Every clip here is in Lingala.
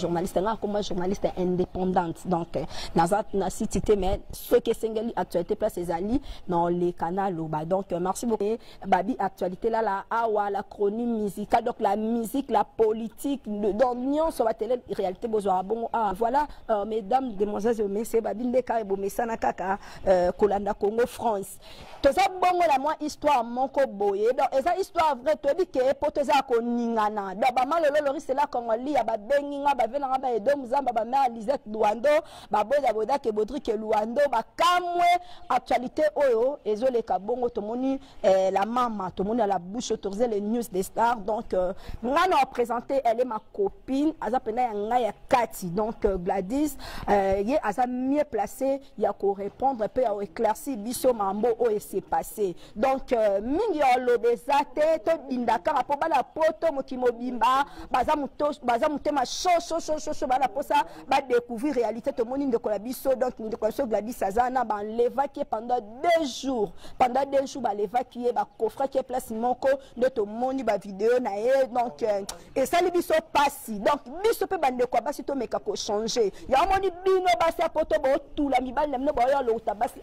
journaliste nga akoma journaliste indépendante donc euh, naza na site te mais ce qui esengeli actualité place ezali dans les canaux loba donc euh, merci beaucoup Et babi actualité là la awa la chronie musicale donc la musique la politique le dans nyonso ba télé réalité bozwa bongo ah voilà euh, mesdames demoiselles et messieurs babi ndeka ebomesana kaka euh, kolanda Congo France toza bongo na mwa histoire moko boye donc eza histoire vrai toyebi ke poto eza ya koningana donc bamalolo lorise la congolia babengi nga bave na nga ba edo muzamba bamare lisette luando baboda boda ke bodrike luando bakamwe actualité oyo ezoleka bongo tomoni eh, la mama tomoni la bouche autorise les news des stars donc euh, nga na représente elle est ma copine aza mpena ya ngai ya kati donc euh, gladys euh, ye aza mieux placé ya ko répondre mpe ya éclairci biso mambo oyo ese passé donc euh, mingi ya oloba eza te tobinda kaka mpo bana poto mokili mobimba baza, moto, baza motema shoshoshosho baa na mposa badécouvrir réalité tomoni ndeko na biso donc ndeko na biso gladis aza na balevaki ye pendant deux jours pendant deux jours balevaki ye bakofraki ye place moko nde tomoni bavideo na ye donc euh, esali biso pasi donc biso mpe bandeko ya basi tomeka kochange ya omoni bino basi ya poto botula mibali na bino baoyo alokota basi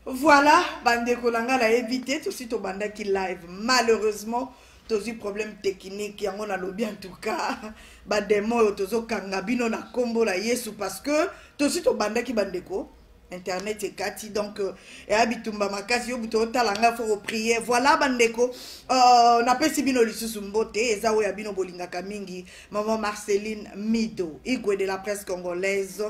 voilà bandeko na ngai nayebi te tosi tobandaki live malheureusement tozwi problème technique yango nalobi en tout cas bademo oyo tozokanga bino na nkombo na yesu parce que tosi tobandaki bandeko internet ekati donc euh, eya bitumba makasi yo buto otala ngai fo koprie voilà bandeko uh, napesi bino lisusu mbote eza oyo ya bino bolingaka mingi mama marceline mido igwe de la presse congolaise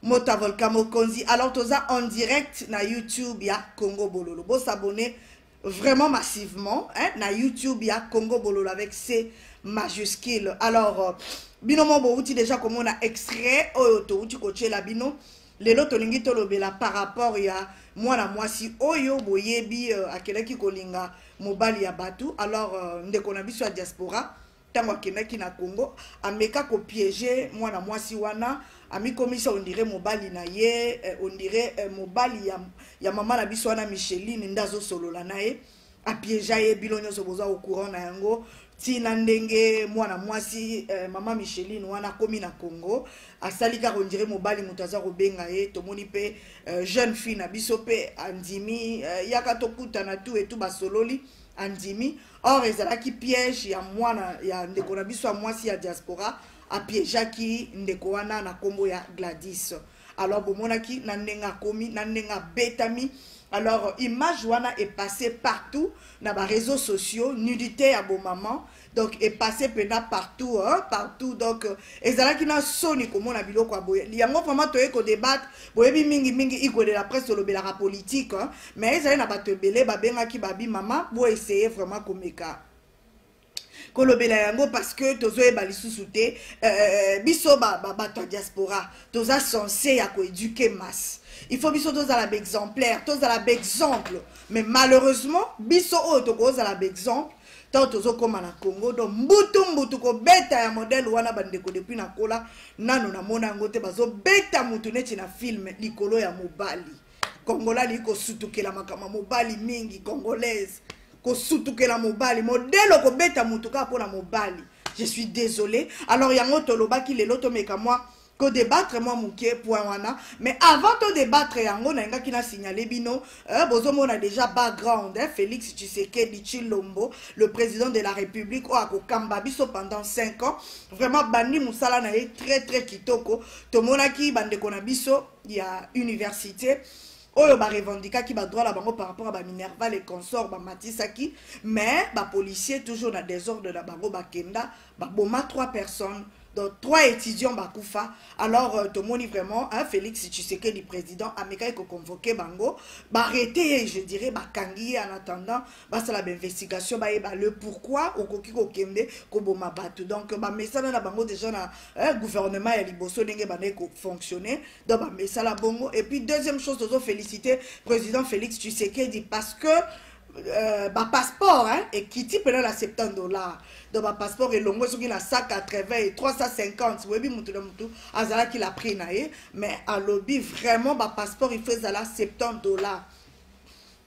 mota volcan mokonzi alors toza en direct na youtube ya congo bololo bosabone vraiment massivement hein, na youtube ya congo bololo avec c majuscule alors euh, bino mo bowuti déjà komona extrait oyo towuti kotyela bino lelo tolingi tolobela par rapport ya mwana mwasi oyo boyebi uh, akelaki kolinga mobali ya bato alors uh, ndeko na biso ya diaspora ntango akendaki na congo ameka kopiege mwana mwasi wana amikomisa ondire mobali na ye eh, ondire eh, mobali ya, ya mama na biso wana micheline nde azosolola na ye eh, apiegea ye bino nyonso boza au courant na yango ti na ndenge mwana mwasi eh, mama micheline wana akomi na congo asali kaka ondire mobali moto aza kobenga ye tomoni mpe eh, jeune fille na biso mpe andimi eh, yaka tokutana tu etu basololi andimi or ezalaki piège ya mwana ya ndeko na biso ya mwasi ya diaspora apiegeaki ndeko wana na nkombo ya gladis alors bomonaki na ndenge akomi na ndenge abetami alors image wana epasse partout na bareseau sociaux nudité ya bomaman donc epasse mpenza partout hein, partout donc euh, ezalaki na soni komona biloko ya boye yango vraimen toyei kodebate boyebi mingi mingi igwe de la presse tolobelaka politike hein, mais ezali na bato ebele babengaki babi mama boeseye vraiment komeka kolobela yango parce que tozoyeba lisusu te euh, euh, biso bato ya diaspora toza sense ya koeduke masse il faut biso tozala baexemplaire tozala baexemple mais malheureusement biso oyo tokozala baexemple ntango tozokóma na congo donc mbutu mbutu kobeta ya modele wana bandeko depuis nakola nano namona yango te bazobeta motu neti na filme likolo ya mobali kongola lii kosutukela makambo ya mobali mingi congolaise kosutukela mobali modelo kobeta motu kaka mpo na mobali je suis désolé alors yango tolobaki lelo tomeka mwa kodebattre mwa moke point wana mais avant todebattre yango nalingaki nasignale bino eh, bozomona déjà background eh, félix tshisekedi tshilombo le président de la république oyo akokamba biso pendant 5 ans vraiment bandi mosala na ye très très kitoko tomonaki bandeko na biso ya université oyo ba revendikaki ba droit na bango par rapport à ba minerval et consort ba matisaki mais ba policiers toujours na désordre na bango ba kenda ba boma trois personnes donc trois étudiants ba kufa alors euh, to moni vraiment hein, Félix Tshisekedi président amekaki ko convoquer bango ba arrêter je dirais ba kangi en attendant ba sala ba investigation ba yeba le pourquoi okoki ko kende ko boma bato donc ba mesana na bango déjà na hein, gouvernement ya liboso ndenge ba ko fonctionner donc bamesala bongo et puis deuxième chose tozo félicité président félix tshisekedi parce que euh, bapasseport hein, ekiti mpena na 70 dollar donc bapasseport elongwe soki na 180 350 oyebi motu na motu azalaki la prix na ye mais alobi vraiment bapasseport il faut ezala 70 dollar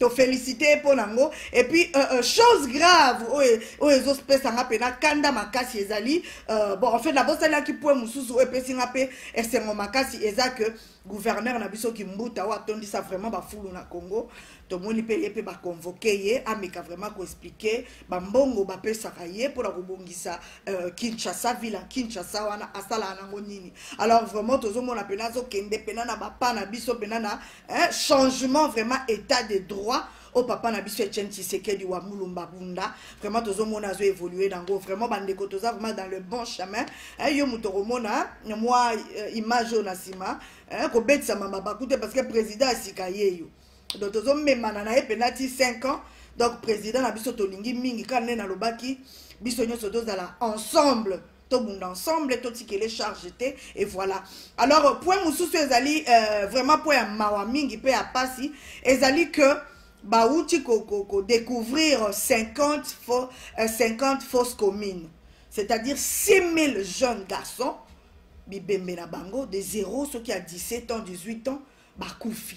To féliciter ye mpo na yango et puis euh, euh, chose grave oyo oyo ezopesa nga mpe na kanda makasi ezali euh, bon en fait nabosalaki point mosusu oyo epesi nga mpe esengo makasi eza que gouverneur na biso kimbuta oyo atondisa vraiment bafulu na congo tomoni mpe ye mpe baconvoke ye ameka vraiment koexplike bambongo bapesaka ye mpona kobongisa euh, kinshasa ville ya kinshasa wana asalaka nango nini alors vraiment tozomona mpena azokende mpena na bapa na biso mpena na hein? changement vraiment état de droit au oh, papa na biso etienne tshisekedi wa mulumba bunda vraiment tozomona azo évolue nango vraiment bandeko toza vraiment dans le bon chemin eh, yo moto okomona eh, mwa eh, image oyo na nsima eh, kobetisama mabaku te parce que président ya sika ye yo donc tozomemana na ye mpena ti 5 ans donc président na biso tolingi mingi kaka nde nalobaki biso nyonso tozala ensemble tobunda ensemble totikele charge te et voilà alors point mosusu ezali euh, vraiment point ya mawa mingi mpe ya mpasi ezali que bauti kodécouvrir ko, ko 50, faux, euh, 50 fausses communes c'est-à-dire 6000 jeunes garçons bibembe na bango de 0 soki ya 17 ans 18 ans bakufi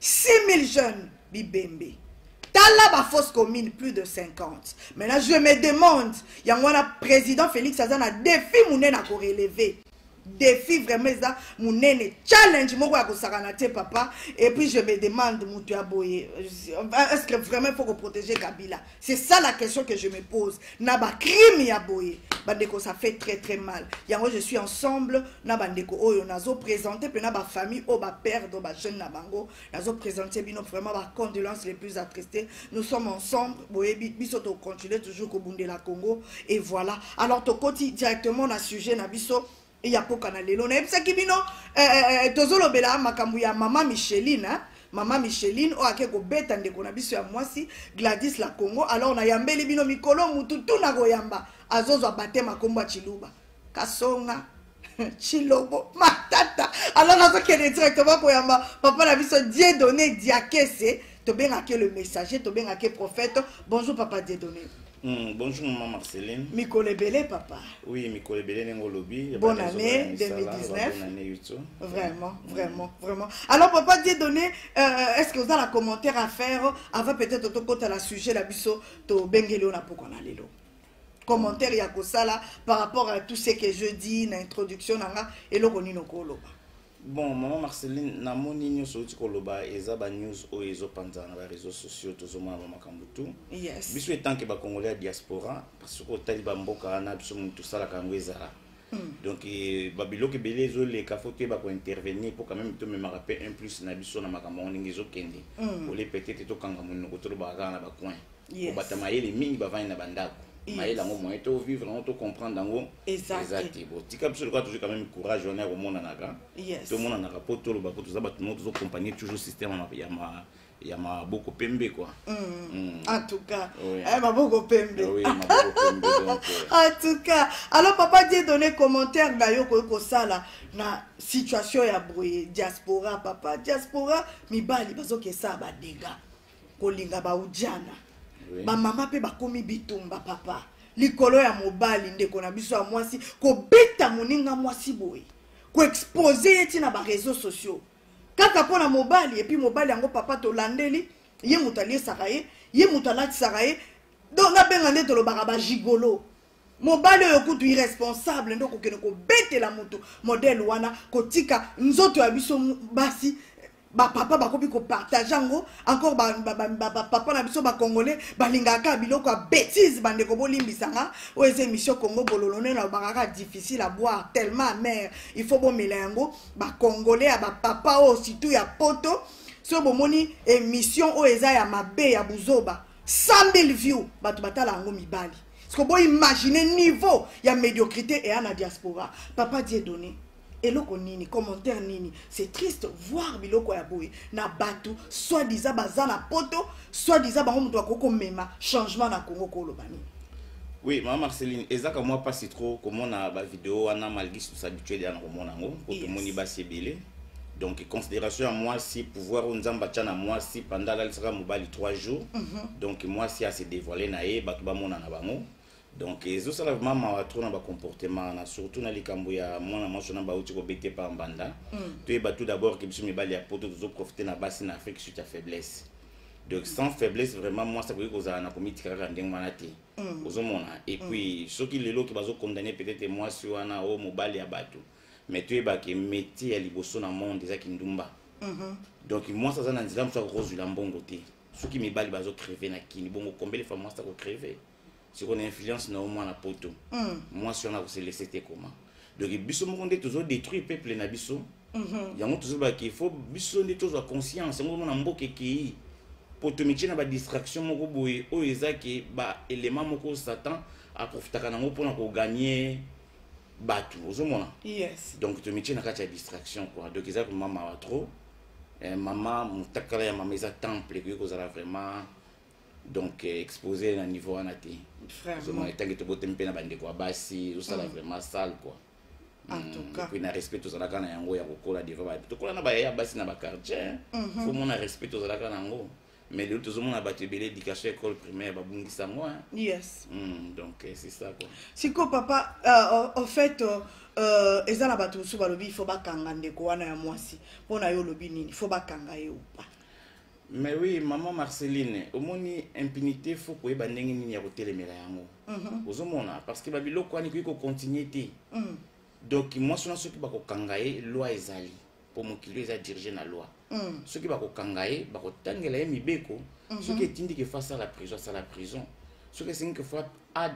6000 jeunes bibembe tala ba fausse commune plus de 50 maintenant je me demande yango wana président félix aza na défi monene akoreleve défi vraiment eza monene challenge moko ya kosakana te papa et puis je me demande moto ya boye est ce que vraiment il faut koprotege kabila C'est ça la question que je me pose. Naba crime ya boye. Bandeko, ça fait très très mal. Yango, je suis ensemble. Naba ndeko oyo, nazo présenté, puis naba famille, oh ba père, ba jeune nabango. Nazo présenté, bino vraiment ba condoléances les plus attristées. Nous sommes ensemble. Boye, biso to continuer toujours au Bundela Congo. Et voilà. Alors, to koti directement na sujet na biso. ya kokana lelo nayebisaki bino eh, eh, eh, tozolobela makambo ya mama micheline eh? mama micheline oyo ake kobeta ndeko na biso ya mwasi gladys la congo alors nayambeli bino mikolo mutu tu na koyamba azozwa batema nkombo ya chiluba kasonga chilobo matata alors nazokende directement koyamba papa na biso die donne diakese tobengaki le messager tobengaki prophète bonjour papa die donne Mm, bonjour maman Marceline. Mikolo ebele papa. Oui, mikolo ebele nengo lobi. Bonne année 2019. Bonne année YouTube. Vraiment, mm. vraiment, vraiment. Alors papa Dieu donné, euh, euh, est-ce que vous avez un commentaire à faire avant peut-être de côté la sujet la biso to bengelo na poko na lelo. Commentaire ya kosala par rapport à tout ce que je dis na introduction nanga eloko nino ko loba. bon mama marceline namoni nyonso outi koloba eza banews oyo ezopanzana na bareseau sociaux tozomona ba makambo tu yes. biso etanke bacongolais ya diaspora parce soki otali bamboka wana biso moni tosalaka yango ezala hmm. donc eh, babiloko ebele ezoleka fo toyeba kointervenir mpo quand même tomemaka mpe un plus na biso na makambo yango ndenge ezokende hmm. ole peut-être tokanga monoko tolobaka kaka na bacoin yes. kobata mayele mingi bavandi na bandako yes. mayele yango moyen to vivre yango to comprendre yango eza te botika biso lokola tozwi quand même courage wana ya komonanaka yes. tomonanaka mpo toloba mpo toza bato moko tozocompagne toujours système ya ma ya maboko pembe kwa mm. mm. en tout cas oui. eh, maboko pembe oui, maboko pembe donc, euh. en tout cas alors papa die donné commentaire na yo okoki kosala na situation ya boye diaspora papa diaspora mibali bazokesa badega kolinga baujana oui. bamama mpe bakomi bitumba papa likolo ya mobali ndeko na biso ya mwasi kobeta moninga mwasi boye koexpose ye ntina bareseau sociaux kaka mpo na mobali epuis mobali yango papa tolandeli ye moto aliesaka ye ye moto alatisaka ye donc nabenga nde tolobaka bagigolo mobali oyo kutu irresponsable nde okokende kobetela moto modele wana kotika nzoto ya biso basi bapapa bakomi kopartage yango encore bapapa na biso bacongolais balingaka kaka biloko ya bétise bandeko bolimbisa nga oyo eza émission congo bololo nde nalobaka kaka difficile à boire tellement amare il faut bomela yango bacongolais ya bapapa oyo surtout ya poto soki bomoni émission oyo eza ya mabe ya buzoba 100 000 view bato batala yango mibali siko boimagine niveau ya médiocrité eya na diaspora papa die donné eloko nini commentaire nini c'est triste voir biloko ya boye na bato soit disant baza na poto soit disant bango moto akoki komema changement na congo koloba nini oui mama marceline ezaka mwa mpasi trop komona bavideo wana malgré sus habituel ya na komona yango mpo tomoni basi ebele donc considération ya mwasi pouvoir oyo nzambe atya na mwasi panda alalisaka mobali 3 jours mm -hmm. donc mwasi ase dévoile na ye bato bamonana bango donc ezosala vraiment mawa trop na bacomportement wana surtout na likambo ya mwana mwasi wana bauti kobete pa mbanda mm. toyeba tout d'abord ke biso mibali ya poto tozoprofite na basi na afrique suite ya faiblesse donc sans faiblesse vraiment mwasi akoki kozala na komitika kaka ndenge wana te mm. ozomona et mm. puis soki lelo ke bazokondane peut-être mwasi wana o oh, mobali ya bato mais toyeba ke métier ya liboso na monde eza kindumba mm -hmm. donc mwasi aza na nzela mosusu akokozwila mbongo te soki mibali bazo creve na kini bongo kombele fa mwasi ako creve sikoyo na influence na yo mwana poto mm. mwasi wana akoselese te koma donc biso moko nde tozo détruire peuple na biso mm-hmm. yango tozobaki fo biso nde tozwa conscience yango omona mboka ekei mpo tomitie na badistraction moko boye oyo eza ke baelema moko satan aprofitaka nango mpona koganye bato ozomona yes. donc tomitie na kati ya distraction quoi donc eza komamawa trop eh, mama motakala ya mama eza temple ekoki kozala vraiment donc eh, exposé na niveau wana te ozomona ntango tobotemi mpe na bandeko ya basi ozosala mm. vraiment sale quoi puis na respect tozalaka na yango ya kokola devant tokola na bayaya basi na baquartier mhm. fo mona respect tozalaka na yango mais lelo tozomona bato ebele éducation école primaire babungisa yango hein? yes mm, donc eh, c'est ça quoi siko papa uh, au fait uh, uh, eza na bato mosusu balobi ifo bakanga ndeko wana ya mwasi mpo na yo olobi nini fo bakanga ye upa mais oui maman marceline omoni impunité fo koyeba ndenge nini ya kotelemela yango mm -hmm. ozomona parce que babiloko wana ekoki kocontinue te mm. donc mwasi wana soki bakokanga ye loi ezali mpo mokili oyo eza dirige na loi mm. soki bakokanga ye bakotangela ye mibeko mm -hmm. soki etindi ke fo asala prison asala prison soki esengi ke fo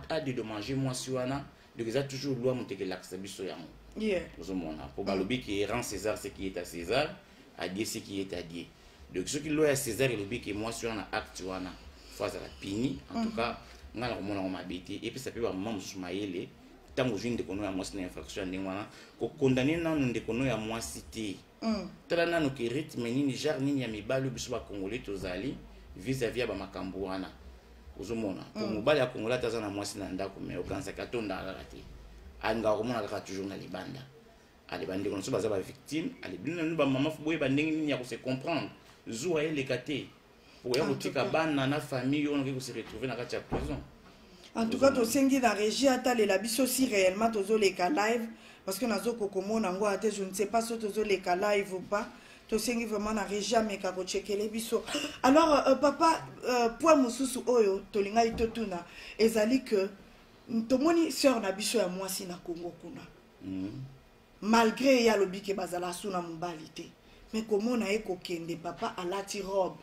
adedommage mwasi wana donc eza toujours loi moto ekelakisa biso yango yeah. ozomona mpo balobi ke erant césar ce qui est à césar adie ce qui est adie donc soki loi ya césar elobi ke mwasi wana acte wana fo azala pini en tout mm. cas ngai nakomona yango mabe te epesa mpe bamama mosusu mayele ntango ozwi ndeko no ya mwasi na infraction ya ndenge wana kokondane nanu ndeko no ya mwasi te mm. tala nanu ke rythme nini genre nini ya mibali biso bakongole tozali vis-à-vis ya bamakambo wana ozomona po mm. mobali ya kongola ata aza na mwasi na ndako mai okanisaki atondaka kaka te alingaka komona kaka toujours na libanda ale bandeko na biso baza bavictime ale bino nanu bamama fo boyeba ndenge nini ya kose comprendre zuwa eleka te oya kotika bana na famille oyo noki kose retrouve na kati ya prison en tout cas tosengi na régie atalela biso si réellement tozoleka live parce que nazo kokomona yango ate je ne sais pas so tozoleka live ou pas tosengi vraiment na régie ameka kotshekele biso alors euh, euh papa euh, point mosusu oyo tolingaki totuna ezali que tomoni sœur na biso ya mwasi na congo kuna mm -hmm. malgre ye alobi ke bazala asu na mobali te me komona ye kokende papa alati robe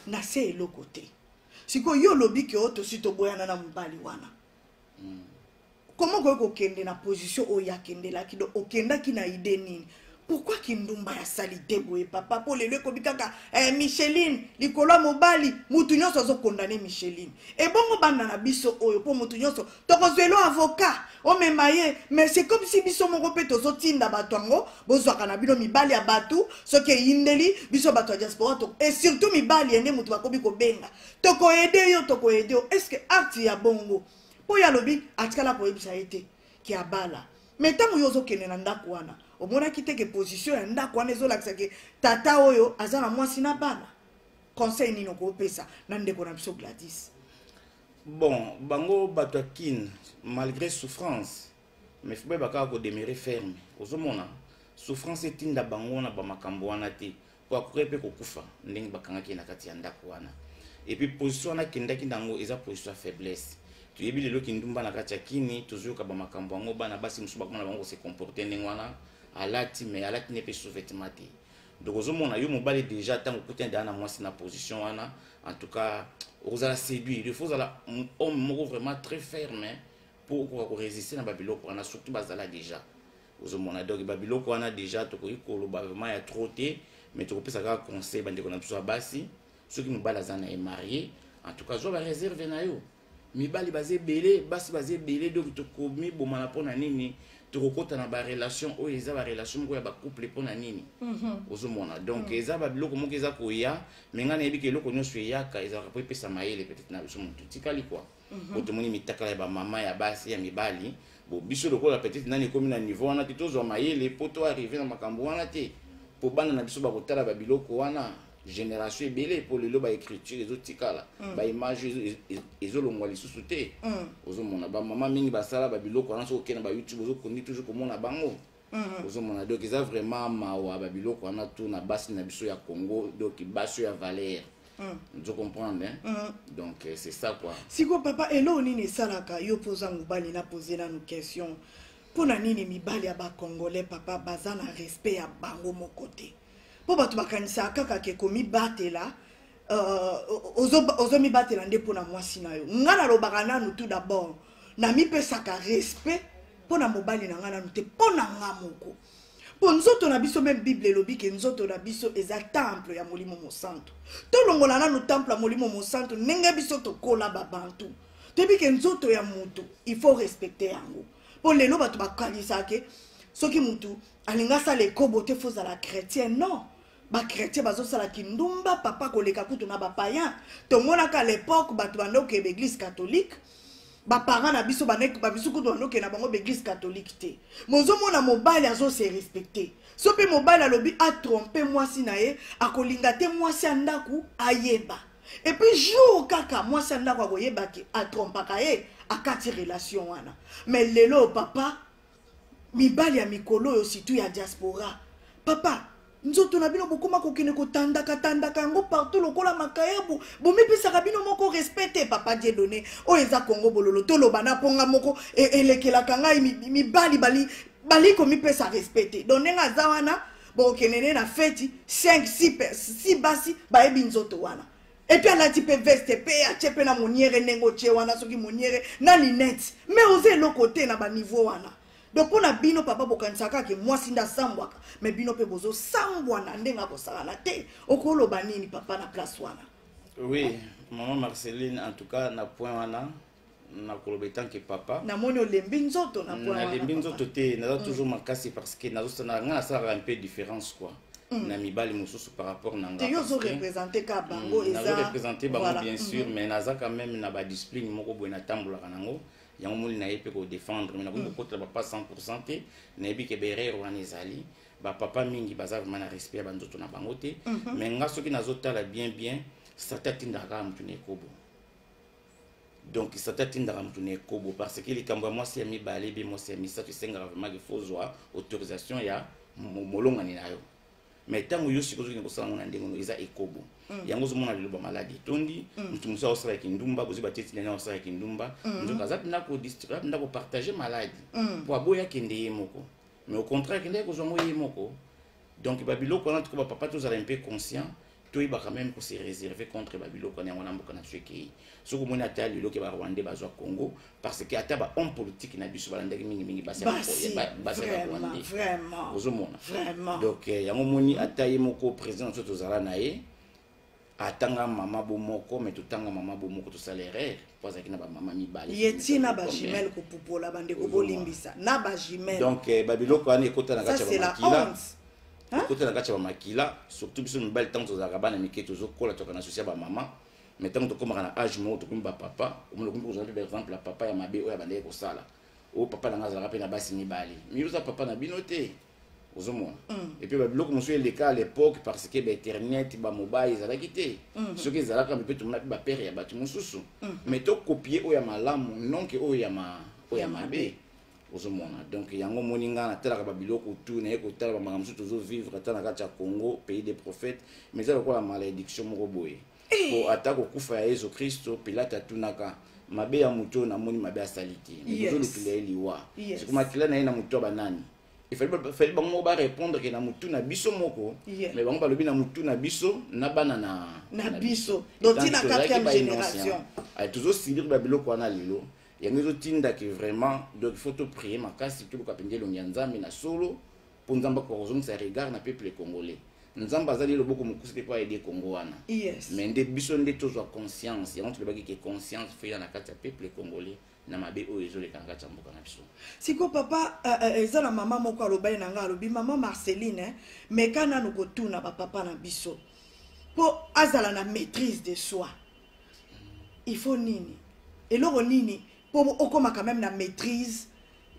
na se eloko te sikoyo yo olobi ke o tosi toboyana na mobali wana mm. koma okoki kokende na position oyo akendelaki do okendaki na ide nini pourkui kindumba ya salite boye papa mpo lelo ekobi kaka eh, micheline likolo ya mobali motu nyonso azokondane micheline ebongo banda na biso oyo mpo motu nyonso tokozwelo avoka omema ye mais c'est comme si biso moko mpe tozotinda bato yango bozwaka na bino mibali ya bato soki eyindeli biso bato ya diaspora to et surtout mibali yende moto bakomi kobenga tokoede yo tokoede yo est ce que art ya bongo mpo ye alobi atikala koyebisa ye te ke abala mais ntango yo ozokende na ndako wana omonaki te ke position ya ndako wana ezolakisa ke tata oyo aza na mwasi na bana conseil nini okopesa na ndeko na biso gladis bon bango bato ya kin malgré souffrance mais faut bayeba kaka kodemere ferme ozomona souffrance etinda bango wana bamakambo wana te mpo akoki mpe kokufa ndenge bakangaki ye na kati ya ndako wana epuis position wana akendaki na yango eza position ya faiblesse toyebi lelo kindumba na kati ya kini tozoyoka bamakambo yango bana basi mosusu bakoma na bango kose comporte ndenge wana alati mais alati ne mpe sous-vêtement te donc ozomona yo mobali déjà ntango okutani deja na mwasi na position wana en tout cas okozala séduire il faut ozala homme moko vraiment très ferme mpo okoka koresiste na babiloko wana surtout bazala déjà ozomona donc babiloko wana déjà tokoki koloba vraiment ya trop te mais tokopesa kaka conseil bandeko na biso ya basi soki mobali aza na ye marie en tout cas zwa bareserve na yo mibali baza ebele basi baza ebele donc tokomibomana mpo na nini tokokota na barelation oyo eza barelation moko ya bacouple mpo na nini mhm. ozomona donc mhm. eza babiloko moko eza koya me ngai nayebi ke eloko nyonso eyaka ezalaka mpo epesa mayele peut-être na biso motu tikali kua mhm. po tomoni mitakala ya bamama ya basi ya mibali bo biso lokola peut-être nani ekomi na niveau wana te tozwa mayele mpo to arrive na makambo wana te mpo bana na biso bakotala babiloko wana génération ebele mpo lelo baécriture ezotikala mm. baimage ezolongwa lisusu te mm. ozomona bamama mingi basala babiloko wana soki okenda bayoutube ozokondi toujours komona bango mm-hmm. ozomona donc eza vraiment mawa babiloko wana to na basi na biso ya congo donc basi ya valeur ozo mm. comprendre hein? Mm. donc euh, c'est ça quoi sikoyo papa eloo nini esalaka yo mpo oza mobali na pose nanu question mpo na nini mibali ya bacongolais papa baza na respect ya bango moko te mpo bato bakanisaka kaka ke komibatela uh, ozomibatela ozo nde mpo na mwasi na yo ngai nalobaka nanu tout d'abord namipesaka respect mpo na mobali na ngai nanu te mpo na ngai moko mpo nzoto na biso meme bible elobi ke nzoto na biso eza temple ya molimo mosantu tolongola nanu temple ya molimo mosantu ndenge biso tokola babantu toyebi ke nzoto ya motu il faut respecte yango mpo lelo bato bakanisaka ke soki motu alinga asala ekobo te fo ozala chrétien non bachrétien bazosala kindumba papa koleka kutu na bapayen tomonaka lepoke bato banda okeye baeglise catholique baparent na biso babiso kutu banda okeye na bango baeglise catholique te mozomona mobali azose respecte so mpe mobali alobi atrompe mwasi na ye akolinga te mwasi ya ndako ayeba epuis jour kaka mwasi ya ndako akoyeba ke atrompaka ye akati relation wana mais lelo papa mibali ya mikolo oyo surtout ya diaspora papa nzoto na bino bokoma kokende kotandaka tandaka yango partout lokola makayabu bomipesaka bino moko respect te papa die donne oyo eza kongo bololo toloba na mponga moko e, elekelaka ngai mibali bali bali komipesa respect te don ndenge aza wana bokokende nde na feti 5 6 basi bayebi nzoto wana epuis alati mpe veste mpe atye mpe na moniere ndenge otye wana soki moniere na linete me oza eloko te na baniveau wana donc mpo na bino papa bokanisaka kaka mwasi nde asambwaka me bino mpe bozosambwana ndenge akosalana te okoloba nini papa na place wana oui mama marceline en tout cas na point wana nakoloba etanke papa namoni olembi nzoto na pona nalembi nzoto te naza mm. toujours makasi parce que nazosana ngai nasalaka un peu différence quoi mm. na mibali mosusu par rapport na ngai yo ozorepresente ka mm, bango ezarepresente bango bien sûr mm-hmm. mais naza quand même na badiscipline moko boye natambolaka nango yango moni na ye mpe kodefendre me nakoki kokotela bapa 100 pourcent te nayebi ke berere wana ezali bapapa mingi baza vraiment na respect ya banzoto na bango te mais mm-hmm. nga soki nazotala bien bien sata atindaka kaka motu na ekobo donc sata atindaka moto na ekobo parce que likambo ya mwasi ya mibale be mwasi ya misato esengaka vraiment kifo ozwa autorisation ya molongani na yo mais ntango yo sikoyo ozokende kosala yango na ndenge ono eza ekobo mm. yango ozomona liloba maladi etondi mm. moto mosusu aosala kindumba bozi bateti na ye aosala kindumba mm. nzoka aza mpenza kopartage maladi mpo aboya kende ye moko mais au contraire akendaki kozwa yango ye moko donc babiloko wana tuko bapapa tozala mpe conscient toyebaka meme kose réserve contre babiloko wana yango na mboka na biso ekei soki omoni ata lelo ke barwandais bazwa congo parce que ata bahomme politique na biso balandaki mingimingi basi ya barwandais ozomona donc eh, yango omoni ata ye moko président na biso tozala na ye atanga mama bo moko me totanga mama bo moko tosala erreur mpo azalaki na bamama mibale ye ti na bajimele kopupola bandeko bolimbisa na bajimele donc eh, babiloko wana ekota na kati ya bamakila ekota na kati ya bamakila surtout biso mibali ntango tozalaka bana mike tozokola toka na sosi ya bamama mais ntango tokomaka na age moko tokomi bapapa omona okomi kozala mpe par exemple ya papa ya mabe oyo abandaki kosala oyo papa na ngai azalaka mpe na basi mibale miyoza papa na bino te ozomona mm. epuis babiloko mosusu eleka à l'époque parce que bainternet bamobai ezalaki te mm-hmm. soki ezalaka mpe tomonaki bapere ya bato mosusu mm-hmm. mais tokopie oyo ya malamu nonke oyo ya oyo ya mabe ozomona donc yango omoni ngai natalaka babiloko tu naye kotala bamaka mosusu tozovivre ata na kati ya congo pays des prophètes mais eza lokola malediction moko boye Eh. po ata kokufa ya yesu kristo pilate atunaka mabe ya moto oyo namoni mabe asali te ozolukila ye liwa siko makila na ye na moto ya banani efali bango moko barépondre ke na motu na biso moko mais bango balobi na motu na biso na bana na biso tozosibir babiloko wana lelo yango ezotinda ke vraiment donc faut toprie makasi toluka mpenza elongi ya nzambe na solo mpo nzambe akoka kozongisa regard na peuple congolais nzambe azali loboko mokuse mpe mpo aide congo wana yes. mais nde biso nde tozwa conscience yango tolobaki ke conscience feya na kati ya peuple congolais na mabe oyo ezoleka na kati ya mboka na biso sikoyo papa uh, uh, eza na mama moko alobaki na ngai alobi mama marceline eh, meka nanu kotuna bapapa na biso mpo azala na maîtrise de soi il faut nini eloko nini mpo okomaka meme na maîtrise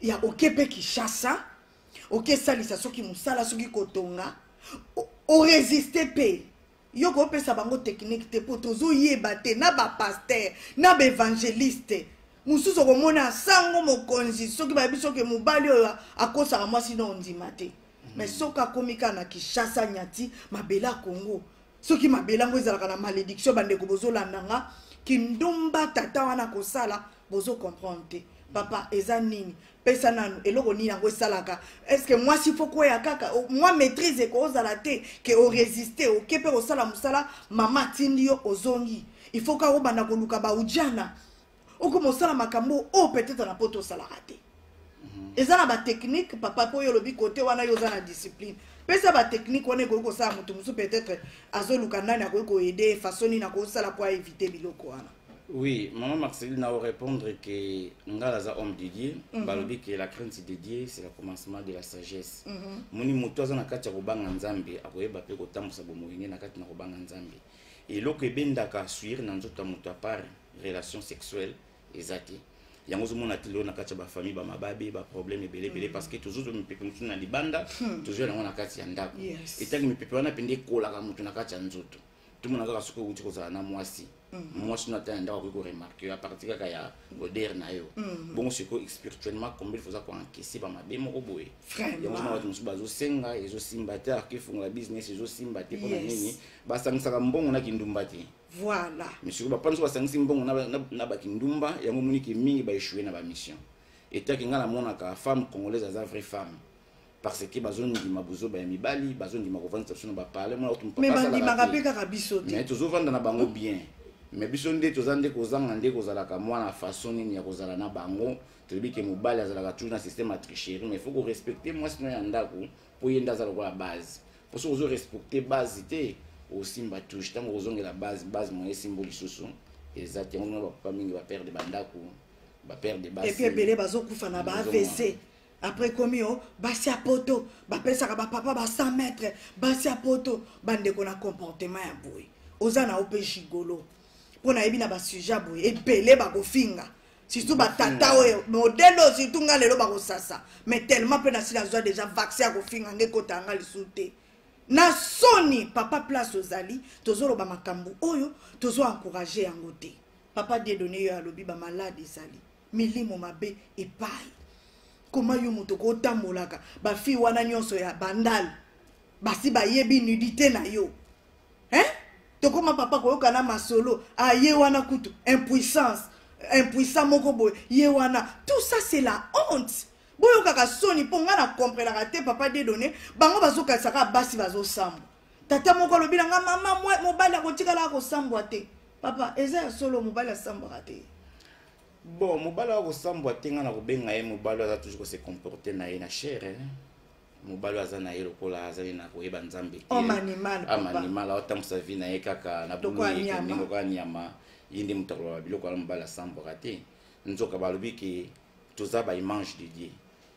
ya okepe kishasa okesalisa soki mosala soki kotonga oresiste mpe yo kopesa bango teknike te mpo tozoyeba te na bapaster na baevangeliste mosusu okomona sango mokonzi soki bayebi soki mobali oyo akosaka mwasi na ondima te mais mhm. soki akomi kaka na kinshasa nyati mabela congo soki mabela yango ezalaka na malédiction bandeko bozolanda nga kindumba tata wana kosala bozo comprendre te papa eza nini pesa nanu eloko nini yango esalaka estce mwasi fo kweya kaka mwa maîtrise ekoozala te ke oresiste oke mpe kosala mosala mama atindi yo ozongi il faut kaka obanda koluka baujana okoma osala makambo oyo oh, peut-être na poto osalaka te mhm. eza na batechnike papa mpo oyo olobi kote wana yo oza na discipline pesa batechnike wana ekoki kosala moto mosusu peut-être azoluka nani akoki koede façon nini akoki kosala mpo aevite biloko wana Oui, maman Marceline n'a répondre que ngala za homme de Dieu, mm -hmm. balobi que la crainte de Dieu c'est le commencement de la sagesse. Mm -hmm. Muni mutu aza na kati ya kobanga Nzambe, akoyeba pe kotambusa bomoyi ne na kati na kobanga Nzambe. Eloko ebendaka suir na nzoto ya mutu apart relation sexuelle eza te. yango ozomona te lelo na kati ya bafamille bamababe baproblème ebele ebele mm. parce que tozozwa mipepe mosusu na libanda hmm. tozwa yango na kati ya ndako etangi mipepe wana mpenza ekolaka moto na kati ya nzoto tomona kaka soki outi kozala na mwasi mhm. mwasi no ata ya ndako akoki koremarke yo apartir kaka ya goder na yo mhm. bongo sikoyo spirituellement combien foza koenkese bamabe moko boye yango na bato mosusu bazosenga ezosimba te arke efungola business ezosimba te mpona nini basangisaka mbongo na kindumba te voilà misiko bapana so basangisi mbongo na bakindumba yango moniki mingi baeshue na bamission etaki ngai namonaka femme congolaise aza vraie femme parce que bazondima buzoba ya mibali bazondima kovandisa biso na baparle mona kutu mais bandimaka mpe kaka biso te mais tozovanda na bango bien mais biso nde toza nde kozanga nde kozalaka mwana façon nini ya kozala na bango tolobi ke mobali azalaka toujours na système ya tricherie mais faut korespecte mwasi no ya ndako mpo ye nde aza lokola base mpo soki ozorespecte base te osimba touche ntango ozongela base base moye esimbo lisusu eza te yango mona bapapa mingi baperde bandako baperde basi ebele bazokufa na ba avc après ekomi o basi ya poto bapesaka bapapa ba 100 mètre basi ya poto bandeko na comportement ya boye oza na yo mpe gigolo mpo nayebi na basujet ya boye ebele bakofinga surtout batata oyo modele oyo surtout nga lelo bakosasa mais tellement mpe nasi nazwa deja vaccin ya kofinga nga ekota yanga lisusu te na soni papa place ozali tozoloba makambo oyo tozo encourage yango te papa diedone yo alobi bamalade ezali milimo mabe epai koma yo moto kotambolaka bafille wana nyonso ya bandal basi bayebi nudité na yo hein? tokoma papa koyoka na masolo ah, ye wana kutu impuissance impuissant moko boye ye wana tout ça c'est la honte boyokaka soni mpo ngai na comprenaka te papa dedone bango bazokanisaka basi bazosambwa tata moko alobi na ngai mama mobali akotikalaka kosambwa te papa eza ya solo mobali asambwaka te bon mobali oyo akosambwa te ngai nakobenga ye mobali oyo aza toujours kose comporte na ye na chere eh. mobali oyo aza na ye lokola azali na koyeba nzambe te amanimal aotambusa vi na ye kaka na buluyekende lokola nyama ye nde moto akoloba biloko wana mobali asambwaka te nzoka balobi ke toza baimage de dieu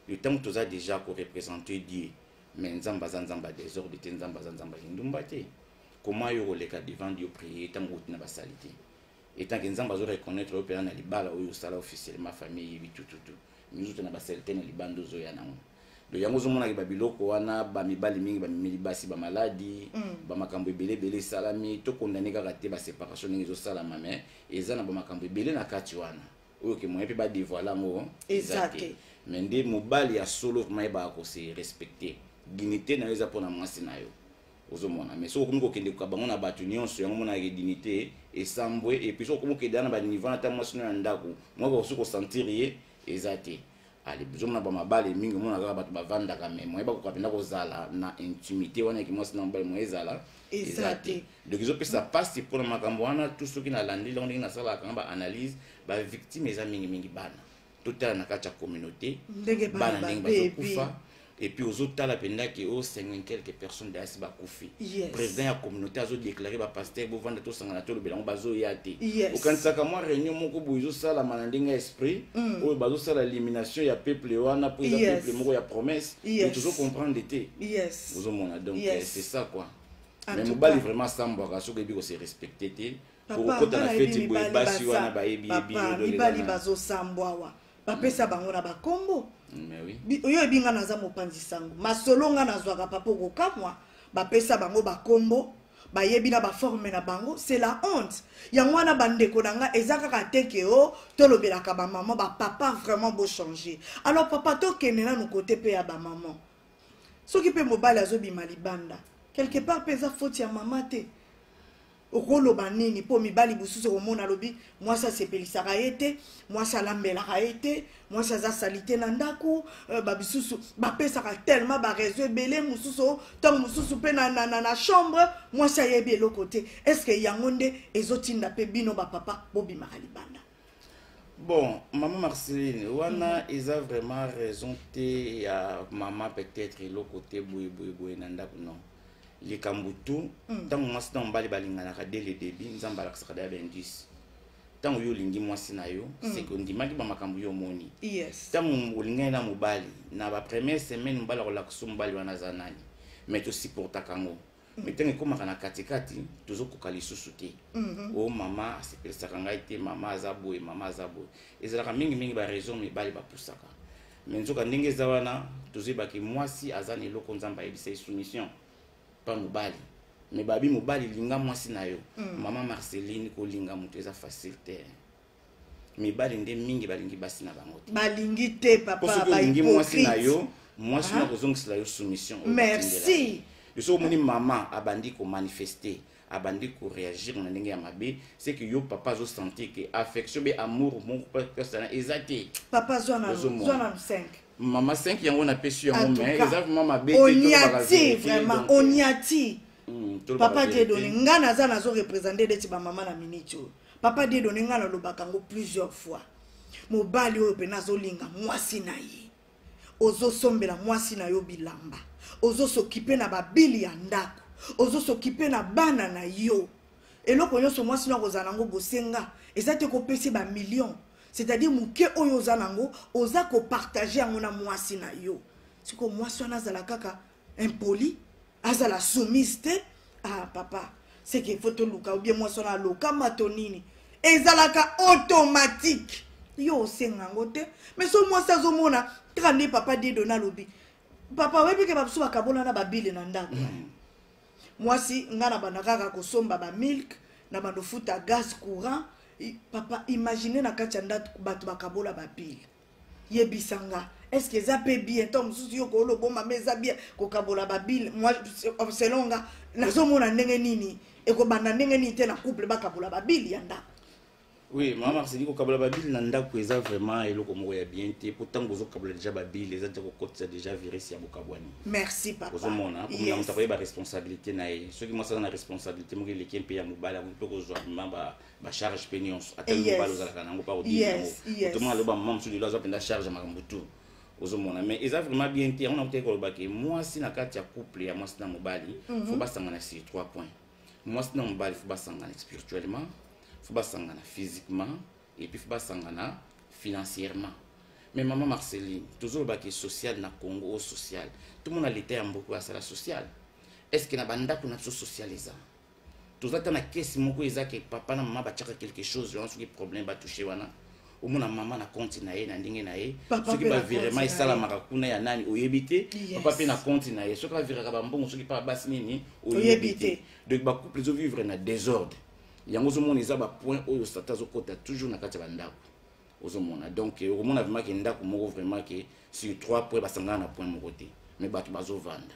yo ntango toza déjà korepresente dieu mais nzambe aza nzambe ya desordre te nzambe aza nzambe ya kindumba te koma yo koleka devant dieu prier ntango outi na basalite etant que nzambe azo reconnaître yo mpena na libala oyo osala officiellement famille eyebi tututu mizuta na basalite na libanda ozoya nango donc yango ozomonaki babiloko wana bamibali mingi bamemeli basi bamaladi mm. bamakambo ebele ebele esalami tokondane kaka te baseparation ndenge ezosalama mais eza na bamakambo ebele na kati wana oyo ke moyen mpe badevoile yango eza te mais nde mobali ya solo vraimen yebaka kose respecte dignité na yo eza mpo na mwasi na yo ozomona mais soki okomi kokende koka bango na bato nyonso yango monaka ke dignité esambwe epuis soki okomi kokende na baniveau na ntango mwasi no ya ndako moyaka okosi kosentir ye eza te ale ozomona bamabale mingi omona kaka bato bavandaka me moye bakoka mpenza kozala na intimité wana yaki mwasi na mobale moye ezala eza te donc ezopesa mpasi mpona makambo wana tu soki nalandeli yango ndenge nasalaka nga baanalyse bavictime eza mingimingi bana totala na kati ya communauté bana ndenge bazokufa epuis ozotala mpenza ke o 50 quelque personne dayasi bakufi président ya communauté azodeklare bapaster bovanda tosangana tolobela yango bazoya te okanisaka mwa réunion moko boye ezosalama na ndenge ya esprit mm. oyo bazosala élimination ya peuple wana mpo eza peuple moko ya promesse mais tozo comprendre te ozomona donc euh, c'est ça quoi mais mobali vraiment asambwaka soki oyebi kose respecte te okokota na feti boye basi wana bayebi mibali bazosambwa awa bapesa mm. bango na bakombo mm, oyo ebi ngai naza mopanzi sango masolo ngai nazwaka papa okokamwa bapesa bango bakombo bayebi na baforme na bango c'est la honte yango wana bandeko na ngai eza kaka te ke o oh, tolobelaka bamama bapapa vraiment bochange alors papa tokende nanu kote mpe ya bamama soki mpe mobali azobima libanda quelque part mpe eza foti ya mama te okoloba nini mpo mibali mosusu okomona alobi mwasi asepelisaka ye te mwasi alambelaka ye te mwasi aza salite na ndako euh, babisusu bapesaka tellement bareseau ebele mosusu ntango mosusu mpe na, na, na, na chambre mwasi ayebi eloko te estce yango nde ezotinda mpe bino bapapa bobimaka libanda bon maman marceline wana mm -hmm. eza vraiment raison te ya mama peut-être eloko te boye boye boye na ndako non likambo tu ntango mm. mwasi na mobali balinganaka de le debut nzambe alakisaka daya baindice ntango yo olingi mwasi na yo mm. seke ondimaki bamakambo yo omoni ntango olingani na mobali na bapremiere semaine mobali akolakisa mobali wana aza nani mai tosupportaka yango me ntango ekomaka na katikati tozokoka lisusu te o mhm. oh, mama asepelisaka ngai te mama aza boye mama aza boye ezalaka mingimingi baraison mibale bapusaka me nzoka ndenge eza wana tozoyebaki mwasi aza na eloko nzambe ayebisa ye soumission mpa mobali me babi mobali linga mwasi na yo mhm. mama marceline kolinga moto eza facile te mibali nde mingi balingi basi na bango te balingi te papa balingi mwasi na yo mwasi na ah. kozongisela yo soumission merci biso omoni mama abandi komanifeste abandi koreagir na ndenge ya mabe seke yo papa azosentir ke affection be amour moko persana eza te papa zwa na 5 mama 5 yango napesi yango me eza vraimen mabe onyati vraimen onyati papa diedone ngai naza nazo represente neti bamama na miniti oyo papa dedone ngai nalobaka yango plusieurs fois mobali oyo mpena azolinga mwasi na ye ozosombela mwasi na yo bilamba ozosokipe na babili ya ndako ozosokipe na bana na yo eloko nyonso mwasi no akozala nango bosenga eza te kopesi bamillion c'est-à-dire moke oyo oza nango oza kopartage yango na mwasi na yo sikoyo mwasi wana azala kaka impoli azala soumise te ah papa seke fo toluka obie mwasi wana alokama to nini ezalaka automatique yo osenga yango te mais so mwasi azomona kaka nde papa dedo nalobi papa oyebi ke babiso bakabolana babile na ndako mm. mwasi ngai na banda kaka kosomba bamilke na bando futa gaz courant papa imagine na kati ya ndako bato bakabola babile yebisa nga est ce que eza mpe bien ntango mosusu yo koolo obomba me eza bien kokabola babile moi selon nga nazomona ndenge nini ekobanda ndenge nini te na couple bakabola babile ya ndako oui mama marceli kokabola babile na ndako eza vraiment eloko moko ya bien te mpo ntango ozokabola deja babile eza te kokotisa deja virus ya bokabwani merci papa ozomona komona moto akoyeba responsabilité na ye soki mwasi aza na responsabilité moko eleki mpe ya mobali akoki mpe kozwa mema bacharge mpe nyonso ata eh, mobali ozalaka nango mpa kodii yango otomona loba mama mosusu lelo aza mpenza charge ya makambo tu ozomona mais eza vraiment bien te yango nakotaki koloba ke mwasi na kati ya couple ya mwasi na mobali mhm. fo basangana sur trois points mwasi na mobali fo basangana spirituellement fo basangana physiquement et puis fo basangana financièrement mais mama marceline tozoloba ke social na congo o social tomona leta ya mboko asala social est ce que na bandako na biso social eza toza ta na kesi moko eza ke papa na mama batiaka quelque chose wana soki problème batouche wana omona mama na konti na ye na ndenge na ye soki bavirement esalamaka kuna ya nani oyebi te papa mpe na konti na ye soki aviraka bambongo soki mpa basi nini oyebi te donc bacouple ezovivre na désordre yango ozomona eza bapoint oyo satan azokota toujours na kati ya bandako ozomona donc eh, okomona vraimen ke ndako moko vraimen ke sur trois point basangana na point moko te mais bato bazovanda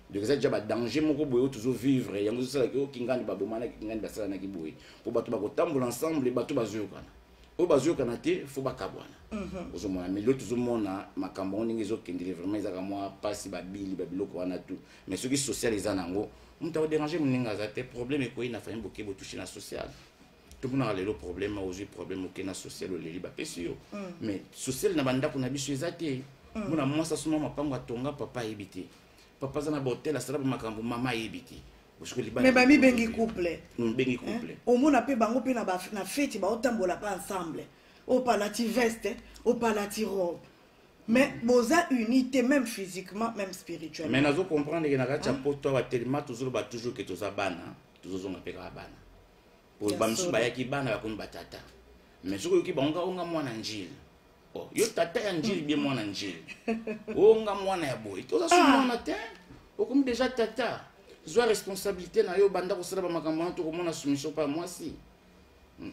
donc eza deja badanger moko boye oyo tozovivre yango ezosalaki o kingani babomanaki kingani basalanaki boye mpo bato bakotambola ensemble bato bazoyokana oyo bazoyokana te fo bakabwana mhm. ozomona mais lelo tozomona makambo yango ndenge ezokendele vraiment ezaka mwa mpasi babili babiloko wana tu mais soki social eza na yango moto akoderange moninga aza te problème ekoyi na famille boke botouche na social tomonaka lelo problème ozwi problème oke na social oleli bapesi yo mm. mais social na bandako na biso eza te mm. mona mwasi asoma mapango atonga papa ayebi te papa aza na bahotel asala bamakambo mama ayebi te mais bamibengi couple mm, bengi couple eh? omona mpe bango mpe na feti baotambola mpe ensemble opalati veste opalati robe mais boza uni te même physiquement même spirituellement mais nazo comprendre ke na kati ya poto awa telema tozoloba toujours ke toza bana tozozonga mpe kaka bana bamisusu bayaki bana bakomi batata mais soki oyoki bango onga mwana njili oh, yo tata ya njili bie mwana njili onga mwana ya boye toza so ah. mwana te okomi deja tata zwa responsabilité na yo banda kosala bamakambo wana tokomona soumission mpa mwasi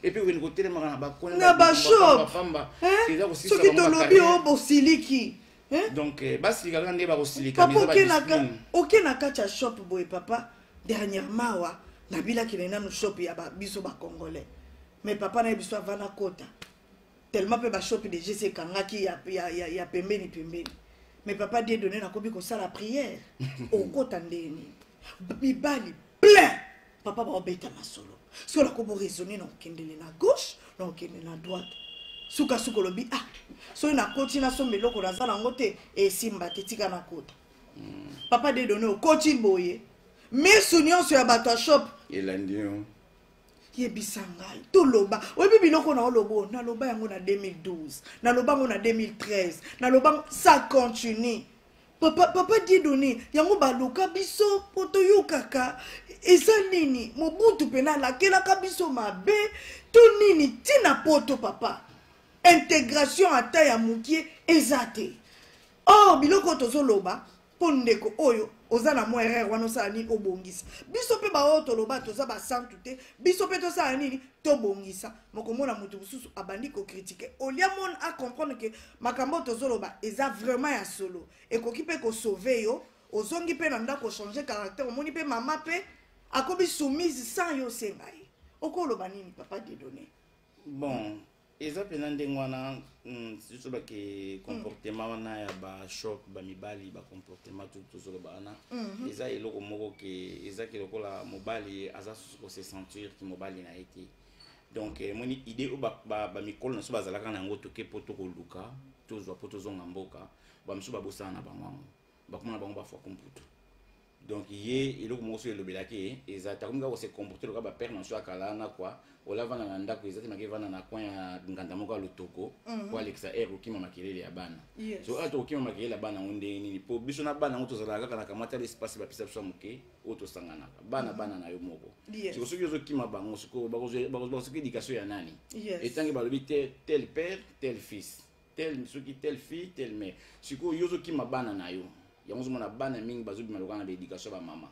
epuis okende kotelemaka na bakonna bashopamba soki tolobi o bosiliki donc eh, basilikaka nde bakosilika oke na kati ya shop boye papa dernièrement awa nabilaki na nanu shop ya ba, biso ba congolais mais papa na ye biso avana kota tellement mpe bashopi deja esi ekangaki ya, ya, ya, ya pembeni pembeni mais papa die donne nakomi kosala prière okota ndenge nini mibali plein papa baobeta masolo soki olako boraisonne na okendele na gauche na okende na droite sukasuka olobi ah soki nakoti nasomba eloko naza nango te esimba te tika nakota papa dedone okoti boye misu nyonso ya bato ya shop elandi yo yebisa ngai toloba oyebi biloko na oloba oyo naloba yango na 2012 naloba yango na 2013 naloba ça continue papa, papa diedone yango baluka biso mpo toyokaka eza nini mobutu mpena alakelaka biso mabe to nini ntina poto papa integration ata ya mokie eza te or biloko oyo tozoloba mpo ndeko oyo oza na mwa erreur wana osala nini obongisa biso mpe baoyo toloba toza basantu te biso mpe tosala nini tobongisa mokomona moto mosusu abandi kokritike olia mone acomprendre ke makambo oyo tozoloba eza vraiment ya solo ekoki mpe kosauve yo ozongi mpe na ndako ochange caractère omoni mpe mama mpe akomi soumise sans yo osenga ye okoloba nini papa dedone bon eza mpenza ndenge wana hmm, surtout bake hmm. comportement wana ya bashop bamibali bacomportement tu tozoloba wana mhm. eza eloko moko ke ezaki lokola mobali aza susu kose sentir ki mobali na ye te donc emoni eh, idée oyo bamikolo na biso bazalaka na yango toke mpo tokoluka tozwa mpo tozonga mboka bamosusu babosana na bango yango bakoma na bango bafwa kumputu donc ye eloko moko soki elobelaki ye eza takomi kaka kose comporte loka bapere na biso ya kala na kwa ola vanda na ndako eza te maki vanda na coin ya nganda moko ya lotoko mhm. po alekisa aire kokima makelele ya bana so oyo tokokima makelele ya bana yango ndenge nini po biso na bana yango tozalaka kaka na kamata lespace bapesa biso ya moke oyo tosanganaka bana mhm. bana na yo moko siko soki ozokima bango sikoyo bakozwa soki edikatio ya nani etangi balobi tel père tel fils tel soki tel fille tel mère sikoyo yo ozokima bana na yo yango ozomona bana mingi bazobima lokola na baéducation ya bamama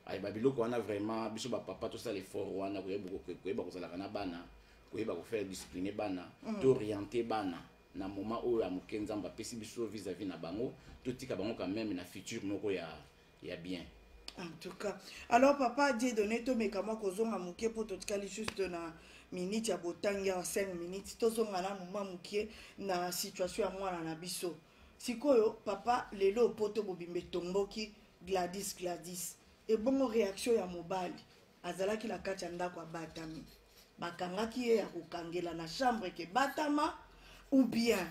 aye babiloko wana vraiment biso bapapa tosala effort wana koyeba kozalaka na bana koyeba kofaire discipline bana mm. tooriente bana na moment oyo ya moke nzambe apesi biso vis-à-vis na bango totika bango quand même na future moko ya ya bien en tout cas alors papa die donné tomeka mwa kozonga moke mpo totikali juste na minute ya botangi ya 5 minutes tozonga na moma moke na situation ya mwana na biso sikoyo papa lelo poto bobimba etomboki gladis gladis ebongo réaction ya mobali azalaki na kati ya ndako abatami bakangaki ye ya kokangela na chambre ke batama ou bien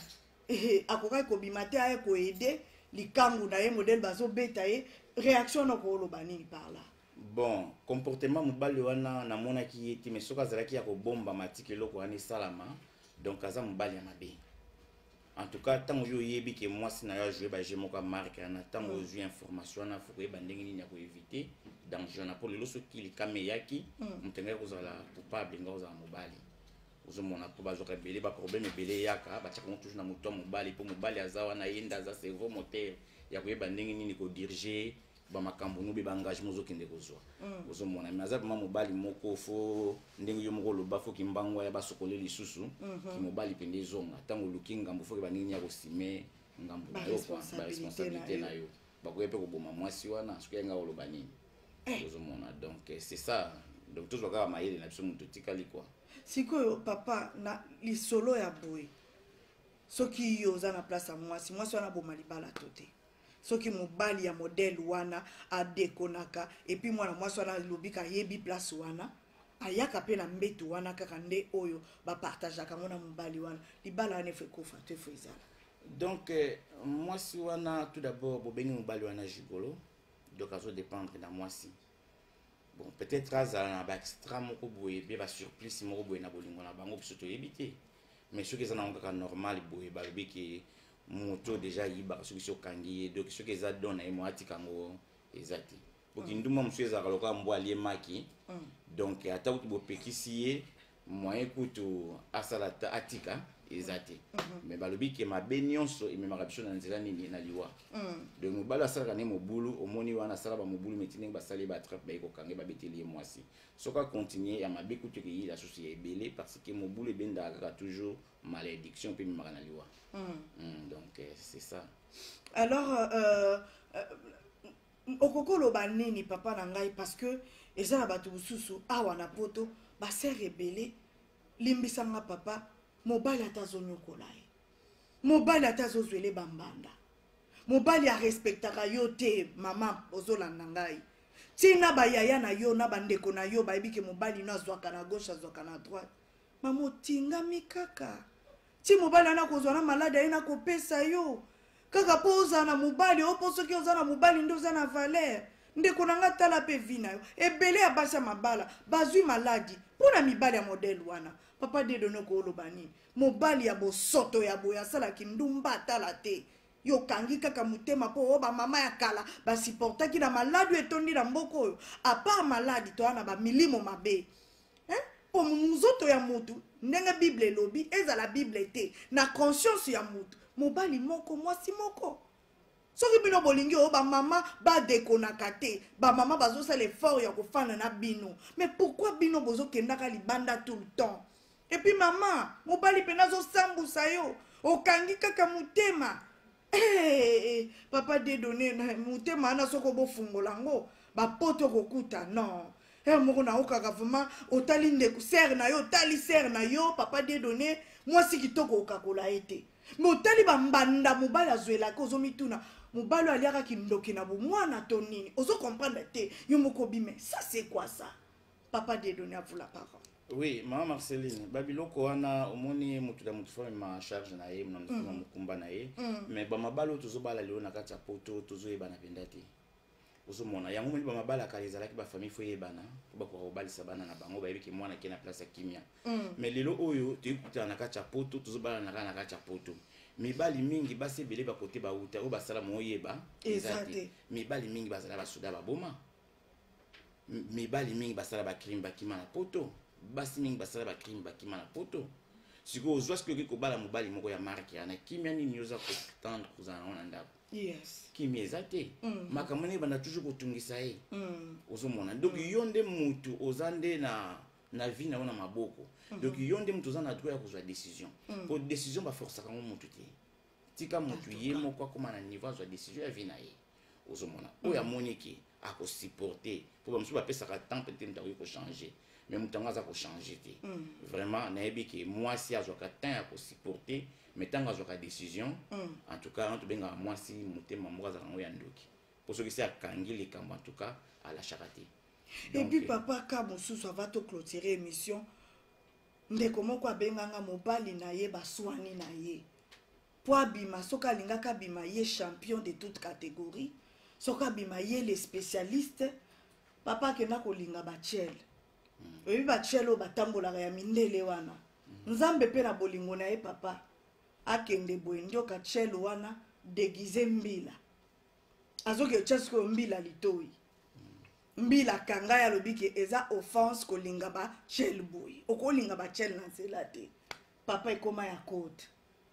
ehe akokaki kobima te aye koede likangu na ye modele bazobeta ye réaction na okoloba nini par là bon comportement mobali wana namonaki ye te mais soki azalaki ya kobomba matiki eloko wana esalama donc aza mobali ya mabe en tout cas ntango yo oyebi ke mwasi na yo ajoue baje moko ya marke wana ntango mm. ozwi information wana fo koyeba ndenge nini ya koevite danger wana mpo lelo soki likama eyaki mm. moto engaki kozala coupable engaki kozala mobali ozomona mpo bazwaka ebele baproblème ebele eyaka batyaka yango toujours na moto ya mobali mpo mobali aza wana ye nde aza cerveau moteur ya koyeba ndenge nini kodirige bamakambo nobe baengagement ozokende kozwa mm. ozomona me aza vraimen mobali moko fo ndenge yo moko oloba fo kimbangu aya basokole lisusu mhm. kimobali mpenza ezonga ntango oluki ngambo foke bandenge nini ya kosime ngambo na yo baresponsabilité na yo bakoya mpe koboma mwasi wana soki yanga oloba nini eh. ozomona donc eh, c'est ça donc tozwa kaka mayele na biso moto etikali kua sikoyo papa na lisolo ya boye soki yo oza na place ya mwasi mwasi wana aboma libala to te soki mobali ya modele wana adekonaka epuis mwana mwasi wana alobi kayebi place wana ayaka mpe na mbetu wana kaka nde oyo bapartageaka yango na mobali wana libala wana efo ekufa to efo ezala donc eh, mwasi wana tout d'abord bobengi mobali wana gigolo donc azo dépendre na mwasi bon peut-être azala na baextra moko boye mpe basurplice moko boye na bolingo na bango biso toyebi te mais soki eza nango kaka normal boye balobi ke moto deja ayibaka soki soki okangi ye donc soki eza don na ye mo atika yango eza te po kindumba mosusu ezalaka lokola mbwa alie maki mm. donc ata kutu bopekisi ye moyen kutu asala ata atika eza te mhm. mais balobi ke mabe nyonso ememaka biso na nzela nini na liwa mhm. donc mobali asalaka ne mobulu omoni wana asala bamobulu meti ndenge basali batrape baye kokange babeteli ye mwasi soki akontinue ya mabe kutu ekeyila susu ya ebele parce que mobulu ebendaka kaka toujours malédiction mpe ememaka na liwa mhm. hmm, donc euh, c'est ça alors euh, euh, okoki loba nini papa na ngai parce que eza na bato mosusu awa na poto basere ebele limbisa nga papa mobali ata azonyokola ye mobali ata azozwele bambanda mobali arespektaka yo te mama ozolanda ngai ntina bayaya na yo na bandeko na yo bayebi ke mobali no azwaka na gauche azwaka na droite mama otingami kaka ti mobali wana kozwa na maladi aye nakopesa yo kaka mpo ozala na mobali oyo mpo soki oza na mobali nde oza na valere ndeko na ngai tala mpe vi na yo ebele ya basi ya mabala bazwi maladi mpo na mibali ya modele wana papa dedonoko oloba nini mobali ya bosoto ya boye asalaki ndumba atala te yo okangi kaka motema mpo oyo bamama ya kala basiportaki na maladi oyo etondi na mboka oyo apart maladi toya na bamilimo mabe hein? po nzoto ya mutu ndenge bible elobi ezala bible te na conscience ya mutu mobali moko mwasi moko soki bino bolingi oyo bamama badekonaka te bamama bazosala effort ya kofanda na bino mais pourkui bino bozokendaka libanda tout le temps epuis mama mobali mpena azosambusa yo okangi kaka motema Hey, papa dedone motema wana soki obofungola yango bapoto kokuta non her moko naokaka vraimen otali ndeko sere na yo otali sere na yo papa dedone mwasi kitoko okakola ye te me otali bambanda mobali azwelaka ozomituna mobali oyo aliaka kindoki na bomwana to nini ozo comprendre te yo moko bime sa se kwa sa papa dedone avula parole oui mama marceline babiloko wana omoni moto na moto fami ma charge na ye na mm. mokumba na ye mm. mais bamabala oyo tozobala lelo na kati ya poto tozoyebana mpenza te ozomona yango moni bamabala kala ezalaki bafamille fo eyebana mpo bakoka kobalisa bana na bango bayebi ke mwana ke na place ya kimia mm. mais lelo oyo toyebi kutana na kati ya poto tozobalana kaka na kati ya poto mibali mingi basi ebele bakote bauta oyo basala moyeba eza te mibali mingi bazala basoda baboma mibali mingi basala bacrime bakima na poto basi mingi basala bacrime bakima na poto sikoyo ozwa soki okoki kobala mobali moko ya marke yana kimia nini oza kotendre kozala nango na ndako yes. kimia eza te mm. makambo nde ebanda toujours kotungisa ye mm. ozomona donc mm. yo nde mutu oza nde na na vie na yo na maboko mm -hmm. donc yo nde moto oza na droit ya kozwa décision mm. po décision baforcaka yango motu te tika motu ye moko akoma na niveau azwa décision ya vie na ye ozomona oyo amoni ke akosupporte mpo bamosusu bapesaka temps peut-être moto akoki kochange mais moto yango aza kochange te mm. vraiment nayebi ke mwasi azwaka temps ya kosupporte mais ntango azwaka décision mm. en tout cas tobengaka mwasi motema moko azalaka yango ya ndoki mpo soki se akangi likambo en tout cas alashaka te epuis papa ka mosusu ava toclotire émission ndeko moko abenganga mobali na ye baswani na ye mpo abima soki alingaki abima ye champion de toute catégorie soki abima ye le spécialiste papa akenda kolinga bachele hmm. oyebi bachele oyo batambolaka ya mindele wana hmm. nzambe mpe na bolingo na ye papa akende boye ndioka chele wana deguise mbila azoketya sikoyo mbila litoi mbila kangai alobi ke eza offense kolinga bachel boye okolinga bachel na nzela te papa ekoma ya kote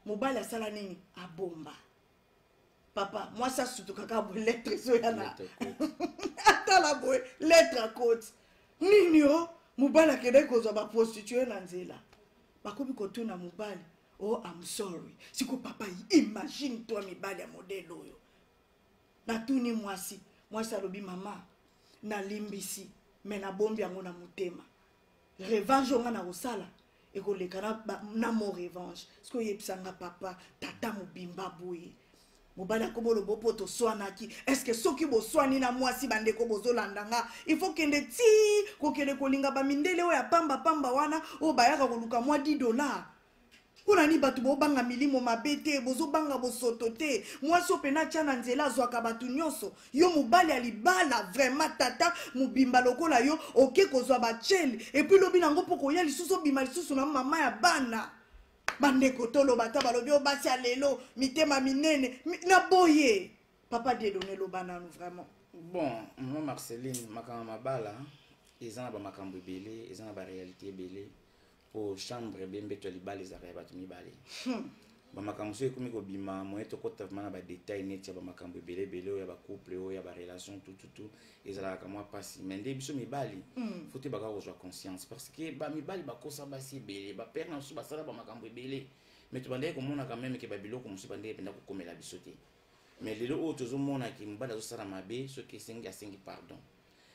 mobali asala nini abomba papa mwasi asutukaka boye lettre ezoya na atala boye lettre akote nini o mobali akendaki kozwa baprostitue na nzela bakomi kotuna mobali oh I'm sorry siko papa imagine toi mibali ya modele oyo natuni mwasi mwasi alobi mama nalimbisi me nabombi yango na motema revanche oyo ngai nakosala ekoleka na, na mo revanche soki oyebisa nga papa tata mobimba boye mobali akomolo bo mpo toswanaki eske soki boswani na mwasi bandeko bozolanda nga il faut kende ti kokende kolinga bamindele oyo ya pamba pamba wana oyo bayaka koluka mwa 10 dollar mpo na nini bato bobanga milimo mabe te bozobanga bosoto te mwasi oyo mpena atya na nzela azwaka bato nyonso yo mobali ya libala vraimen tata mobimba lokola yo oke kozwa bachele epuis lobi nango mpo koya lisusu obima lisusu na mama ya bana bandeko toloba ata balobi oyo basi ya lelo mitema minene mi, na boye papa dedone loba nanu vraiment bon mama marceline makambo mabala eza na bamakambo ebele eza na barealité ebele mpo chambre ebe mbeto ya libala ezalaka ya bato mibale hmm. bamakambo soki ekomi kobima moye tokota vraimen na badetail neti ya bamakambo ebele ebele oyo ya bacouple oyo ya barelation tututu ezalaka kamwa mpasi mai nde biso mibali mm. fo toyebaka kozwa conscience parce que bamibali bakosa basi ebele bapere na biso basala bamakambo ebele mai tobandaki komonaka meme ke babiloko mosusu bandeki mpenza kokomela biso te mai lelo oyo tozomonaki mobali azosala mabe soki esengi asengi pardon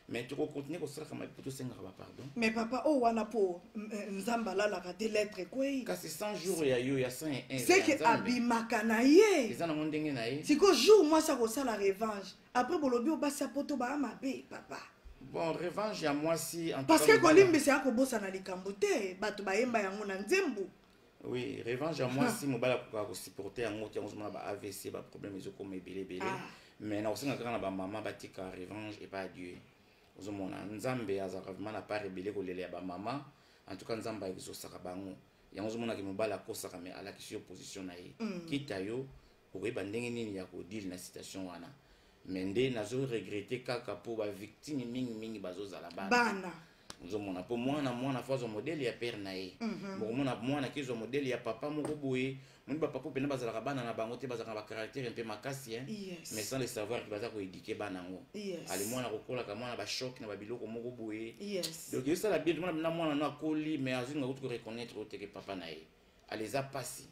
mais tokokontinue kosalaka mabe mpo tosengaka bapardon mais papa oyo oh, wana mpo mm, eh, nzambe alalaka te lettre ekwei kasi 100 jour ya yo ya 101 seke abimaka na ye eza nango ndenge na ye sikoyo jour mwasi akosala revanche après bolobi o basi ya poto baa mabe papa bon revanche ya mwasi parce que kolimbisa ya kobosana likambo te bato bayemba yango na nzembo oui revanche ya mwasi mobali akokaka kosupporte yango te yango ozomona ba avc baproblème ezokoma ebele ebele ah. mais nakosenga kaka na bamama batika revanche epa ya dieu ozomona nzambe azalaka vraimen na part ebele kolela ya bamama en tout cas nzambe ayokisosaka bango yango ozomonaki mobali akosaka mais alakisi yo position na ye mm. kita yo okoyeba ndenge nini ya kodile na situation wana me nde nazo regrete kaka mpo bavictime mingimingi bazozala bana ozomona mpo mwana mwana fo azwa modele ya pere na ye mhm. mokomona mwana kezwa modele ya papa moko boye moni bapapa mpena bazalaka bana na bango te bazalaka na bacaractere mpe makasi ye mais sans le savoir ke baza koedike bana yango ale mwana kokolaka mwana bashoke na babiloko moko boye donc esala bien tomona na mwana no akoli mais azwi nga kutu koreconnaitre oyo teke papa na ye ale eza mpasi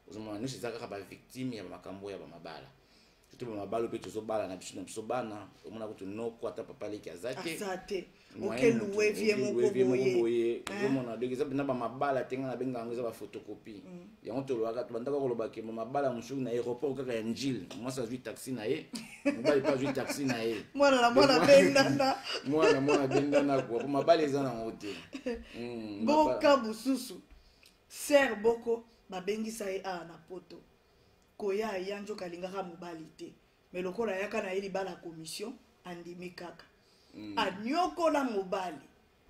ozomona nyonso eza kaka bavictime ya bamakambo ya bamabala soki bamabala mpe tozobala na biso na biso bana omona kutu noko ata papa leki aza te okeluevie moko boye ozomona donc eza mpena bamabala te ngai nabenga yango eza bafotokopi mm. yango tolobaka tobandaka koloba ke bamabala mosusu na aéroport kaka ya njile mwasi azwi taxi na ye mobali mpe azwi taxi na ye mwana na mwana bendana mwana mwana bendana kua po mabala eza nango te mm, boka mosusu Sœur Boko babengisa ye awa na poto koya ya njoka alingaka mobali te me lokola ayaka na ye libala commission andimi kaka mm. anyokola mobali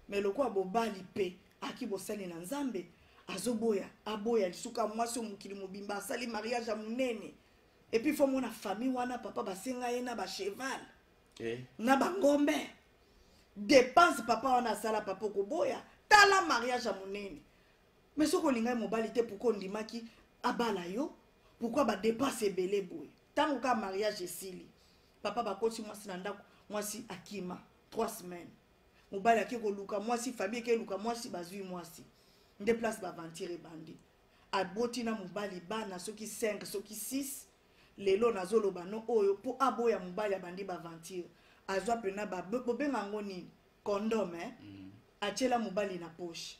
me lokola bobali mpe aki bosani na nzambe azoboya aboya lisuka mwasi oyo mokili mobimba asali mariage ya monene epuis fo mona famille wana papa basenga ye na bacheval eh. na bangombe dépense papa wana asala papa okoboya tala mariage ya monene mais soki olingaki mobali te pourkui ondimaki abala yo pourkui badepense ebele boye ntango kaka mariage esili papa bakoti mwasi na ndako mwasi akima 3 semaine mobali ake koluka mwasi famille eke eluka mwasi bazwi mwasi nde place baventire ebandi aboti na mobali bana soki 5 soki 6 lelo nazoloba no oyo mpo aboya mobali abandi baventire azwa mpena bobenga yango nini condom eh? mm. atiela mobali na poche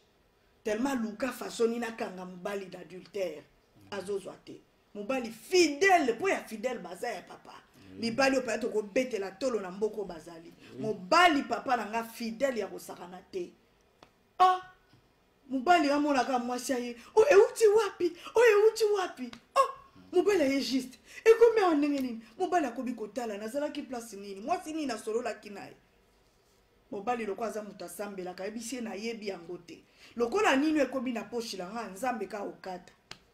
tellement aluka fasoni nakanga mobali d'adultère mm. azozwa te mobali fidèle mpo ya fidèle baza ya papa mm. mibali oyo mpenza tokobetela tolo na mboka oyo bazali mm. mobali papa na nga fidèle ya kosakana te oh mobali amonaka mwasi ya ye oyo oh, euti wapi oyo oh, euti wapi oh mobali aye juste ekomi awa ndenge nini mobali akobi kotala nazalaki place nini mwasi nini nasololaki na ye mobali lokola aza moto asambelaka ayebisi ye nayebi yango te lokola nini ekomi na poshi na nga nzambe ka okata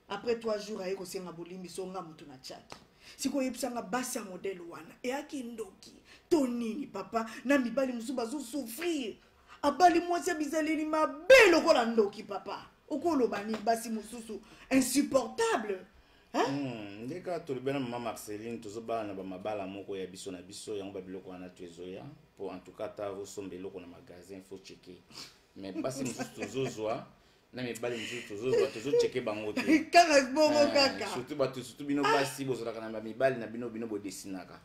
après 3 jours aye kosenga bolimbisi onga moto na chaki sikoyebisanga basi ya modele wana eyaki ndoki to nini papa na mibali mosusu bazosouffrir abali mwasi ya bizaleli mabe lokola ndoki papa okoloba nini basi mosusu insupportable Hmm, nde kaka tolobi na mama marceline tozobala na bamabala moko ya biso na biso yango babiloko wana to ezoya mpo en tout cas ata osomba eloko na magasin faut cheke mais basi mosusu tozozwa na mibali mosusu tozozwa tozocheke bango te kaka bongo Eh, kaka surtout bato surtout bino basi bozalaka na bamibali na bino bino bodesinaka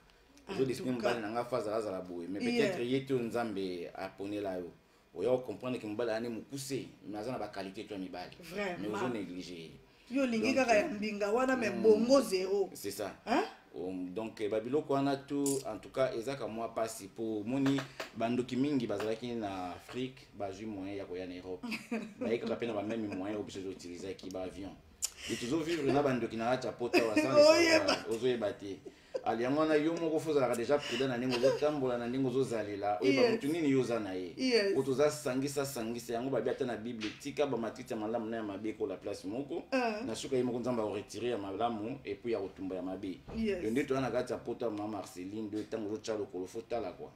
En ozodesine tout cas. mobali na ngai fo azala azala boye mais Yeah. peut-être ye te oyo nzambe aponela yo oya ko comprendre que mobali ane mukuse mais aza na ba qualité to mibali mais ozo négliger yo lingi kaka ya mbinga wana mais hmm. bongo zéro c'est ça hein um, donc eh, babiloko wana tu en tout cas ezaka mwa mpasi mpo omoni bandoki mingi bazalaki na afrique bazwi moyen ya koya na europe bayekaka mpe na bameme moyen oyo biso ezoutilisaki baavion e tozovivre na bandoki na kati ya pota waozoyeba te ali yango wana yo moko fo ozalaka deja prudent na ndenge ozotambola na ndenge ozozalela oyeba motu nini yo oza na ye po toza sangisa sangisa yango babi ata na bible tika bamatiti ya malamu na ya mabe ekola place moko ah. na suka ye moko nzambe akoretire ya malamu epuis ya kotumba ya mabe yo nde toza na kati ya poto ya mama marceline nde ntango ozotya lokolo fo tala kua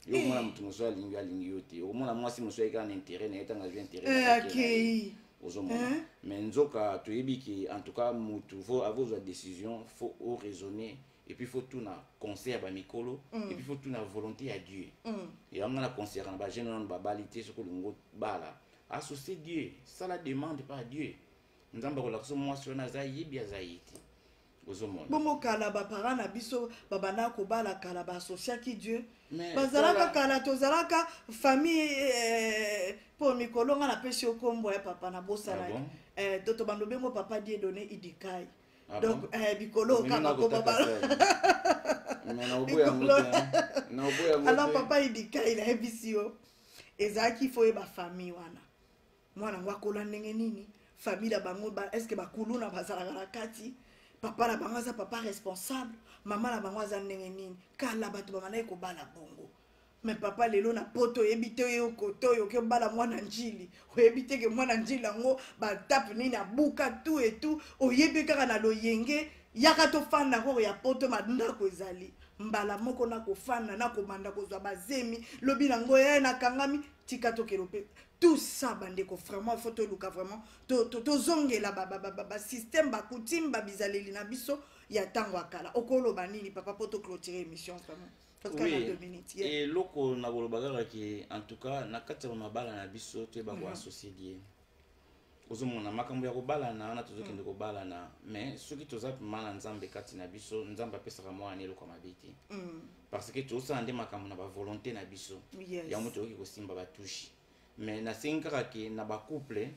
yo omona moto mosusu alingi alingi yo te omona mwasi mosusu ayeki na intérêt na ye ntango azwi intérêt eh, ozomona eh? mais nzoka toyebi ke en tout cas motu fo akozwa décision fo oraisonner et puis faut tout na concert ba mikolo mm. et puis faut tout na volonté ya dieu mm. yango na concert na bajeune wana babali te soki olingi obala associe dieu sala demande par dieu nzambe akolakisa mwasi wana aza yebi aza ye te bongo kala baparent na biso babandaka kobala kala baassociaki dieu bazalaka kala tozalaka famille eh, mpo mikolo nga napesi yo nkombo ya papa nabosanaki ah eh, to tobanda obengo papa die donne idikai ah donc eh, bikolo oka bakoma bala alors papa idikai nayebisi yo ezalaki fo ye bafamille wana mwana yango akola ndenge nini famille na bango ba, eske bakuluna bazalaka na kati papa na bango aza papa responsable mama na bango aza ndenge nini kala bato babandaki kobala bongo me papa lelo na poto oyebi te oye okota oyo oke obala mwana njili oyebi te ke mwana njili yango batape nini abuka tu etu oyebi kaka na loyenge yaka tofanda koko ya poto bandako ezali mbala moko nakofanda nakobanda kozwa bazemi lobi na ngo ye eh, nakangami tika tokelo mpe tout ça bandeko vraiment faut toluka vraiment tozongela basystème bacoutume babizaleli na biso ya ntango ya kala okoloba nini papa mpo toclotire émission vraiment eloko na koloba kaka ke en tout cas na kati ya mabala na biso toyeba koassocie mhm. liye ozomona makambo ya kobalana wana tozokende mm. kobalana mais soki toza mpema na nzambe kati na biso nzambe apesaka mwana na eloko ya mabe te mm. parce que tosala nde makambo na bavolonté na biso yango toyoki kosimba batushi mais nasengi kaka ke na bacouple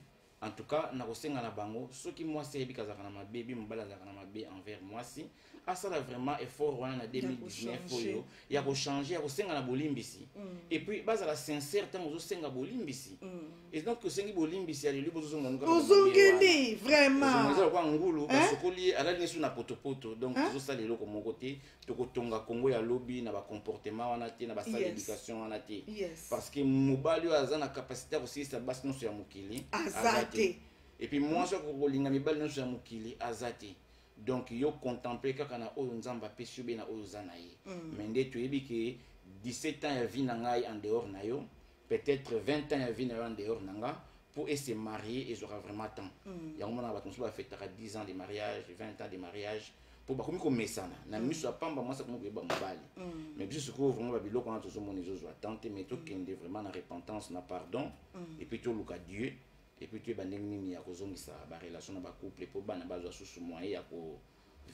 en tout cas nakosenga na bango soki mwasi ayebi kazalaka na mabe bi mobali azalaka na mabe envers mwasi asala vraiment effort wana na 2019 oyo ya kochange ya kosenga na bolimbisi mm. epuis bazala sincère ntango ozosenga bolimbisi mm. et donc osengi bolimbisi aleli bozozongaozongeli vraimenteza lokola ngulu basokoli ye alali nesu na potopoto donc tozosala eloko moko te tokotonga kongo ya lobi na bacomportement wana te na basala éducation wana te parce que mobali oyo aza na capacité ya kosilisa basi nyonso ya mokili aza te epuis mwasi akokolinga mibali nyonso ya mokili aza te donc yo contemple kaka na oyo nzambe apesi yo be na oyo oza na ye mm. mais nde toyebi ke 17 ans ya vie na ngai en dehors na yo peut-être 20 ans ya vie na yo en dehors na nga mpo ese marie ezwaka vraiment temps mm. yango monaka bato mosusu bafetaka 10 ans de mariage 20 ans de mariage mpo bakomi komesana na mm. miso ya pamba mwasi akomi koyeba mobali mm. mais biso sikoyo vraiment babiloko wana tozomona ezozwa temps te mais tokende vraiment na repentance na pardon mm. epuis toluka dieu et puis toyeba ndenge nini ya kozongisa barelation na bacouple mpo bana bazwa susu moyen ya ko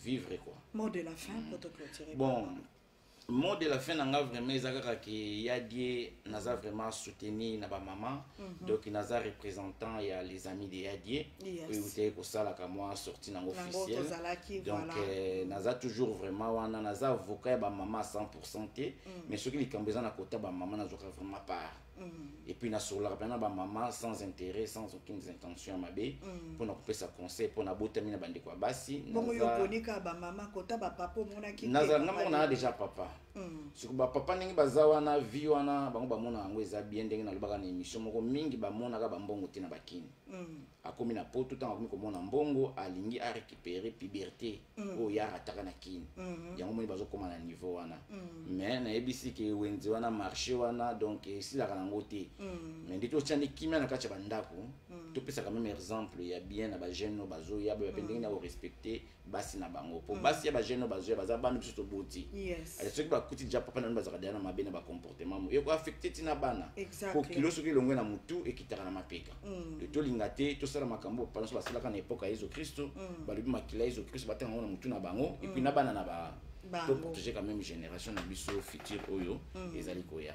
vivre quoi mot de la fin mpo toclotire bon mot de la fin na nga vraiment eza kaka ke ya die naza vraiment soutenu na bamama mm -hmm. donc naza représentant ya les amis de ya die yes. oyo eutaki kosalaka mwa sorti nango officiel donc voilà. euh, naza toujours vraiment wana naza avocat ya bamama 100 pourcent te mm. mais soki likambo eza na kota bamama nazwaka vraiment part et puis nasololaka mpenza na bamama sans intérêt sans aucune intention ya mabe mpo na kopesa conseil mpo nabotami na bandeko ya basi bongo yo oponi kaka bamama kota bapapa omonaki nazala nga moko naa déjà papa mm. siko bapapa ndenge baza wana vie wana bango bamonaka yango eza bien ndenge nalobaka na émission moko mingi bamonaka bambongo te na bakini mm. akomi na poto ntango akomi komona mbongo alingi a récupérer puberté mm. oyo ya rataka na kin mm-hmm. yango moni bazokoma na niveau wana mm. mais nayebisi ke wenze wana marché wana donc esilaka nango te mm. mais nde totya nde kimia na kati ya bandako topesaka meme exemple ya bien na bajeune oyo bazoya boya mpe ndenge na korespecte mm. basi na bango mpo mm. basi ya bajeune oyo bazwi baza bana biso toboti eh, soki bakuti ja papa na bino bazalaka deja na mabe na bacomportement mo ekoaffecte ntina bana mpo kilo soki elongwe na motu ekitaka na mapeka mm. eh, tolinga te tosala makambo oyo papa nyonso basalaka na epoke ya yesu kristo mm. balobi makila ya yesu kristo batanga yango na motu na bango epuis na bana na ba toprotege quand même génération na biso future oyo ezali koya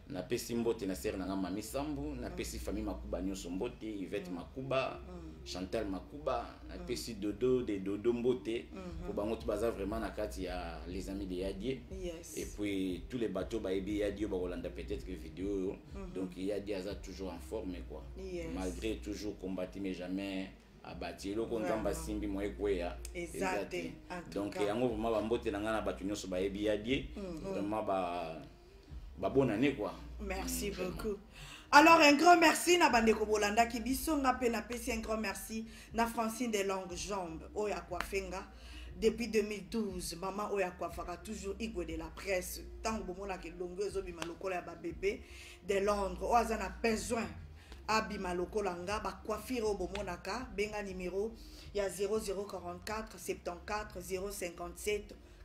napesi mbote na sere na ngai mami sambu napesi mm. famille makuba nyonso mbote ivete mm. makuba mm. chantal makuba napesi dodo de dodo mbote mpo mm-hmm. bango to baza vraiment na kati ya les amis de yadie yes. et puis tous les bateau bayebi yadie bakolanda peut-être que video oyo mm-hmm. donc yadie aza toujours en forme quoi yes. malgré toujours combati mais jamais abati eloko nzambe asimbi mwa ekweya eza te donc yango vraimen bambote na ngai na bato nyonso bayebi yadie mm, vraimen ba ba bonne année quoi merci mm, beaucoup alors un grand merci na bandeko bolandaki biso nga mpe napesi un grand merci na francine de longue jambe oyo akuafe nga depuis 2012 mama oyo akuafaka toujours igwe de la presse ntango bomonaka elongo ezobima lokola ya babebe de londres oyo aza na besoin abima lokola nga bacoiffure oyo bomonaka benga nimero ya 0044 74 057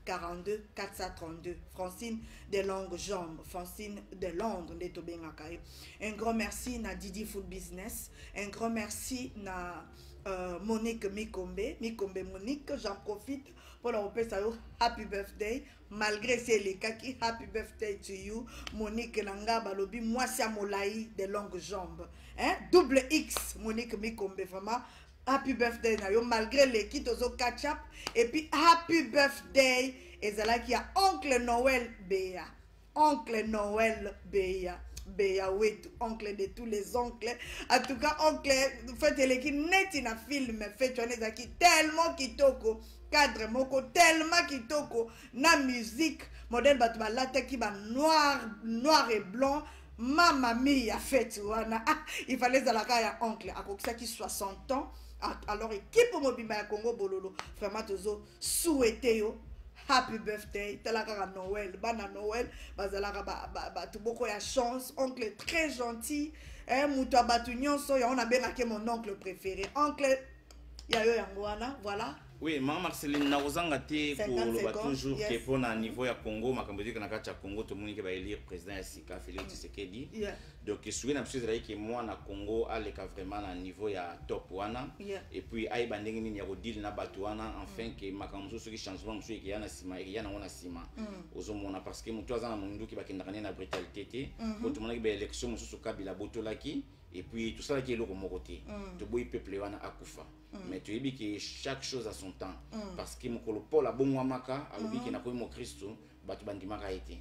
42 432 francine de longue jambe francine de londres nde tobengaka ye un grand merci na didi full business un grand merci na euh, monique mikombe mikombe monique j'en profite mpo na kopesa yo happy birthday malgré si elekaki happy birthday to you monique na nga balobi mwasi ya molai de longue jambe hein? double x monique mikombe vraiment happy birthday na yo malgré leki tozo catch up et puis happy birthday ezalaki ya oncle noël beya oncle noël beya beya wetu oncle de tous les oncles en tout cas oncle fete eleki neti na film fete wana ezalaki tellement kitoko cadre moko tellement kitoko na musique modèle bato balataki ba noir noir et blanc mama mi ya feti wana ah, il fallait ezalaka ya oncle akokisaki 60 ans ah, alors ekipe mobimba ya congo bololo vraiment tozo souhaite yo happy birthday tala kaka noel bana noel bazalaka bato ba, ba, boko ya chance oncle très gentil eh, moto ya bato nyonso yango nabengaki mon oncle préféré oncle ya yo yango wana voilà oui mama marceline nakozanga te koloba toujours ke mpo na niveau ya congo makambo ezalaki na kati ya congo tomoni ke baelire président ya sika félix mm. tshisekedi donc esuki na biso ezalaki ke mwana congo aleka vraiment na niveau ya top wana et puis ayeba ndenge nini ya kodile na bato wana enfin ke mm. makambo mosusu soki changement mosusu ekeya na nsima ekeya nango na nsima mm. ozomona parce que motu aza na monduki bakendaka nde na brutalité te mpo mm-hmm. tomonaki baélection mosusu kabila abotolaki et puis tosalaki eloko moko te mm. toboyi peuple wana akufa mm. mais toyebi ke chaque chose à son temps mm. parce que mokolo paul abongwamaka alobi mm. ke nakomi mokristu bato bandimaka ye te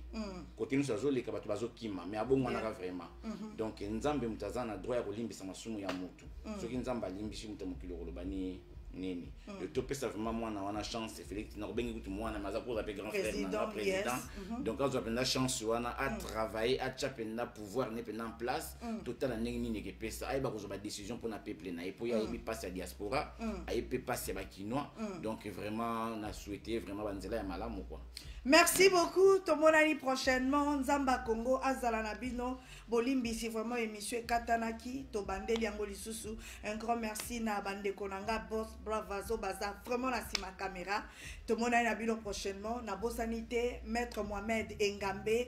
kote nyonso azoleka bato bazokima mais abongwanaka vraiment mm-hmm. donc nzambe moto aza na droit ya kolimbisa masumu ya motu soki nzambe alimbisi moto ya mokili okoloba nini nini mm. topesa vraiment mwana wana chance félix nakobengi kutu mwana mais aza koza mpe grand frère nanga président mm-hmm. donc azwa mpenza chance wana atravaille atya mpenza pouvoir ne mpenza en place mm. totala ndenge nini ekepesa ayeba kozwa badécision mpona peuple na ye mpo ye ayebi mpasi mm. ya diaspora mm. ayebi mpe mpasi ya bakinois mm. donc vraiment na souhaite vraiment banzela ya malamu kua merci beaucoup tomonani prochainement nzamba congo azala na bino bolimbisi vraiment émission ekatanaki tobandeli yango lisusu un grand merci na bandeko na nga bos bravazo baza vraiment na nsima caméra tomonani na bino prochainement nabosani te maître mohamed engambe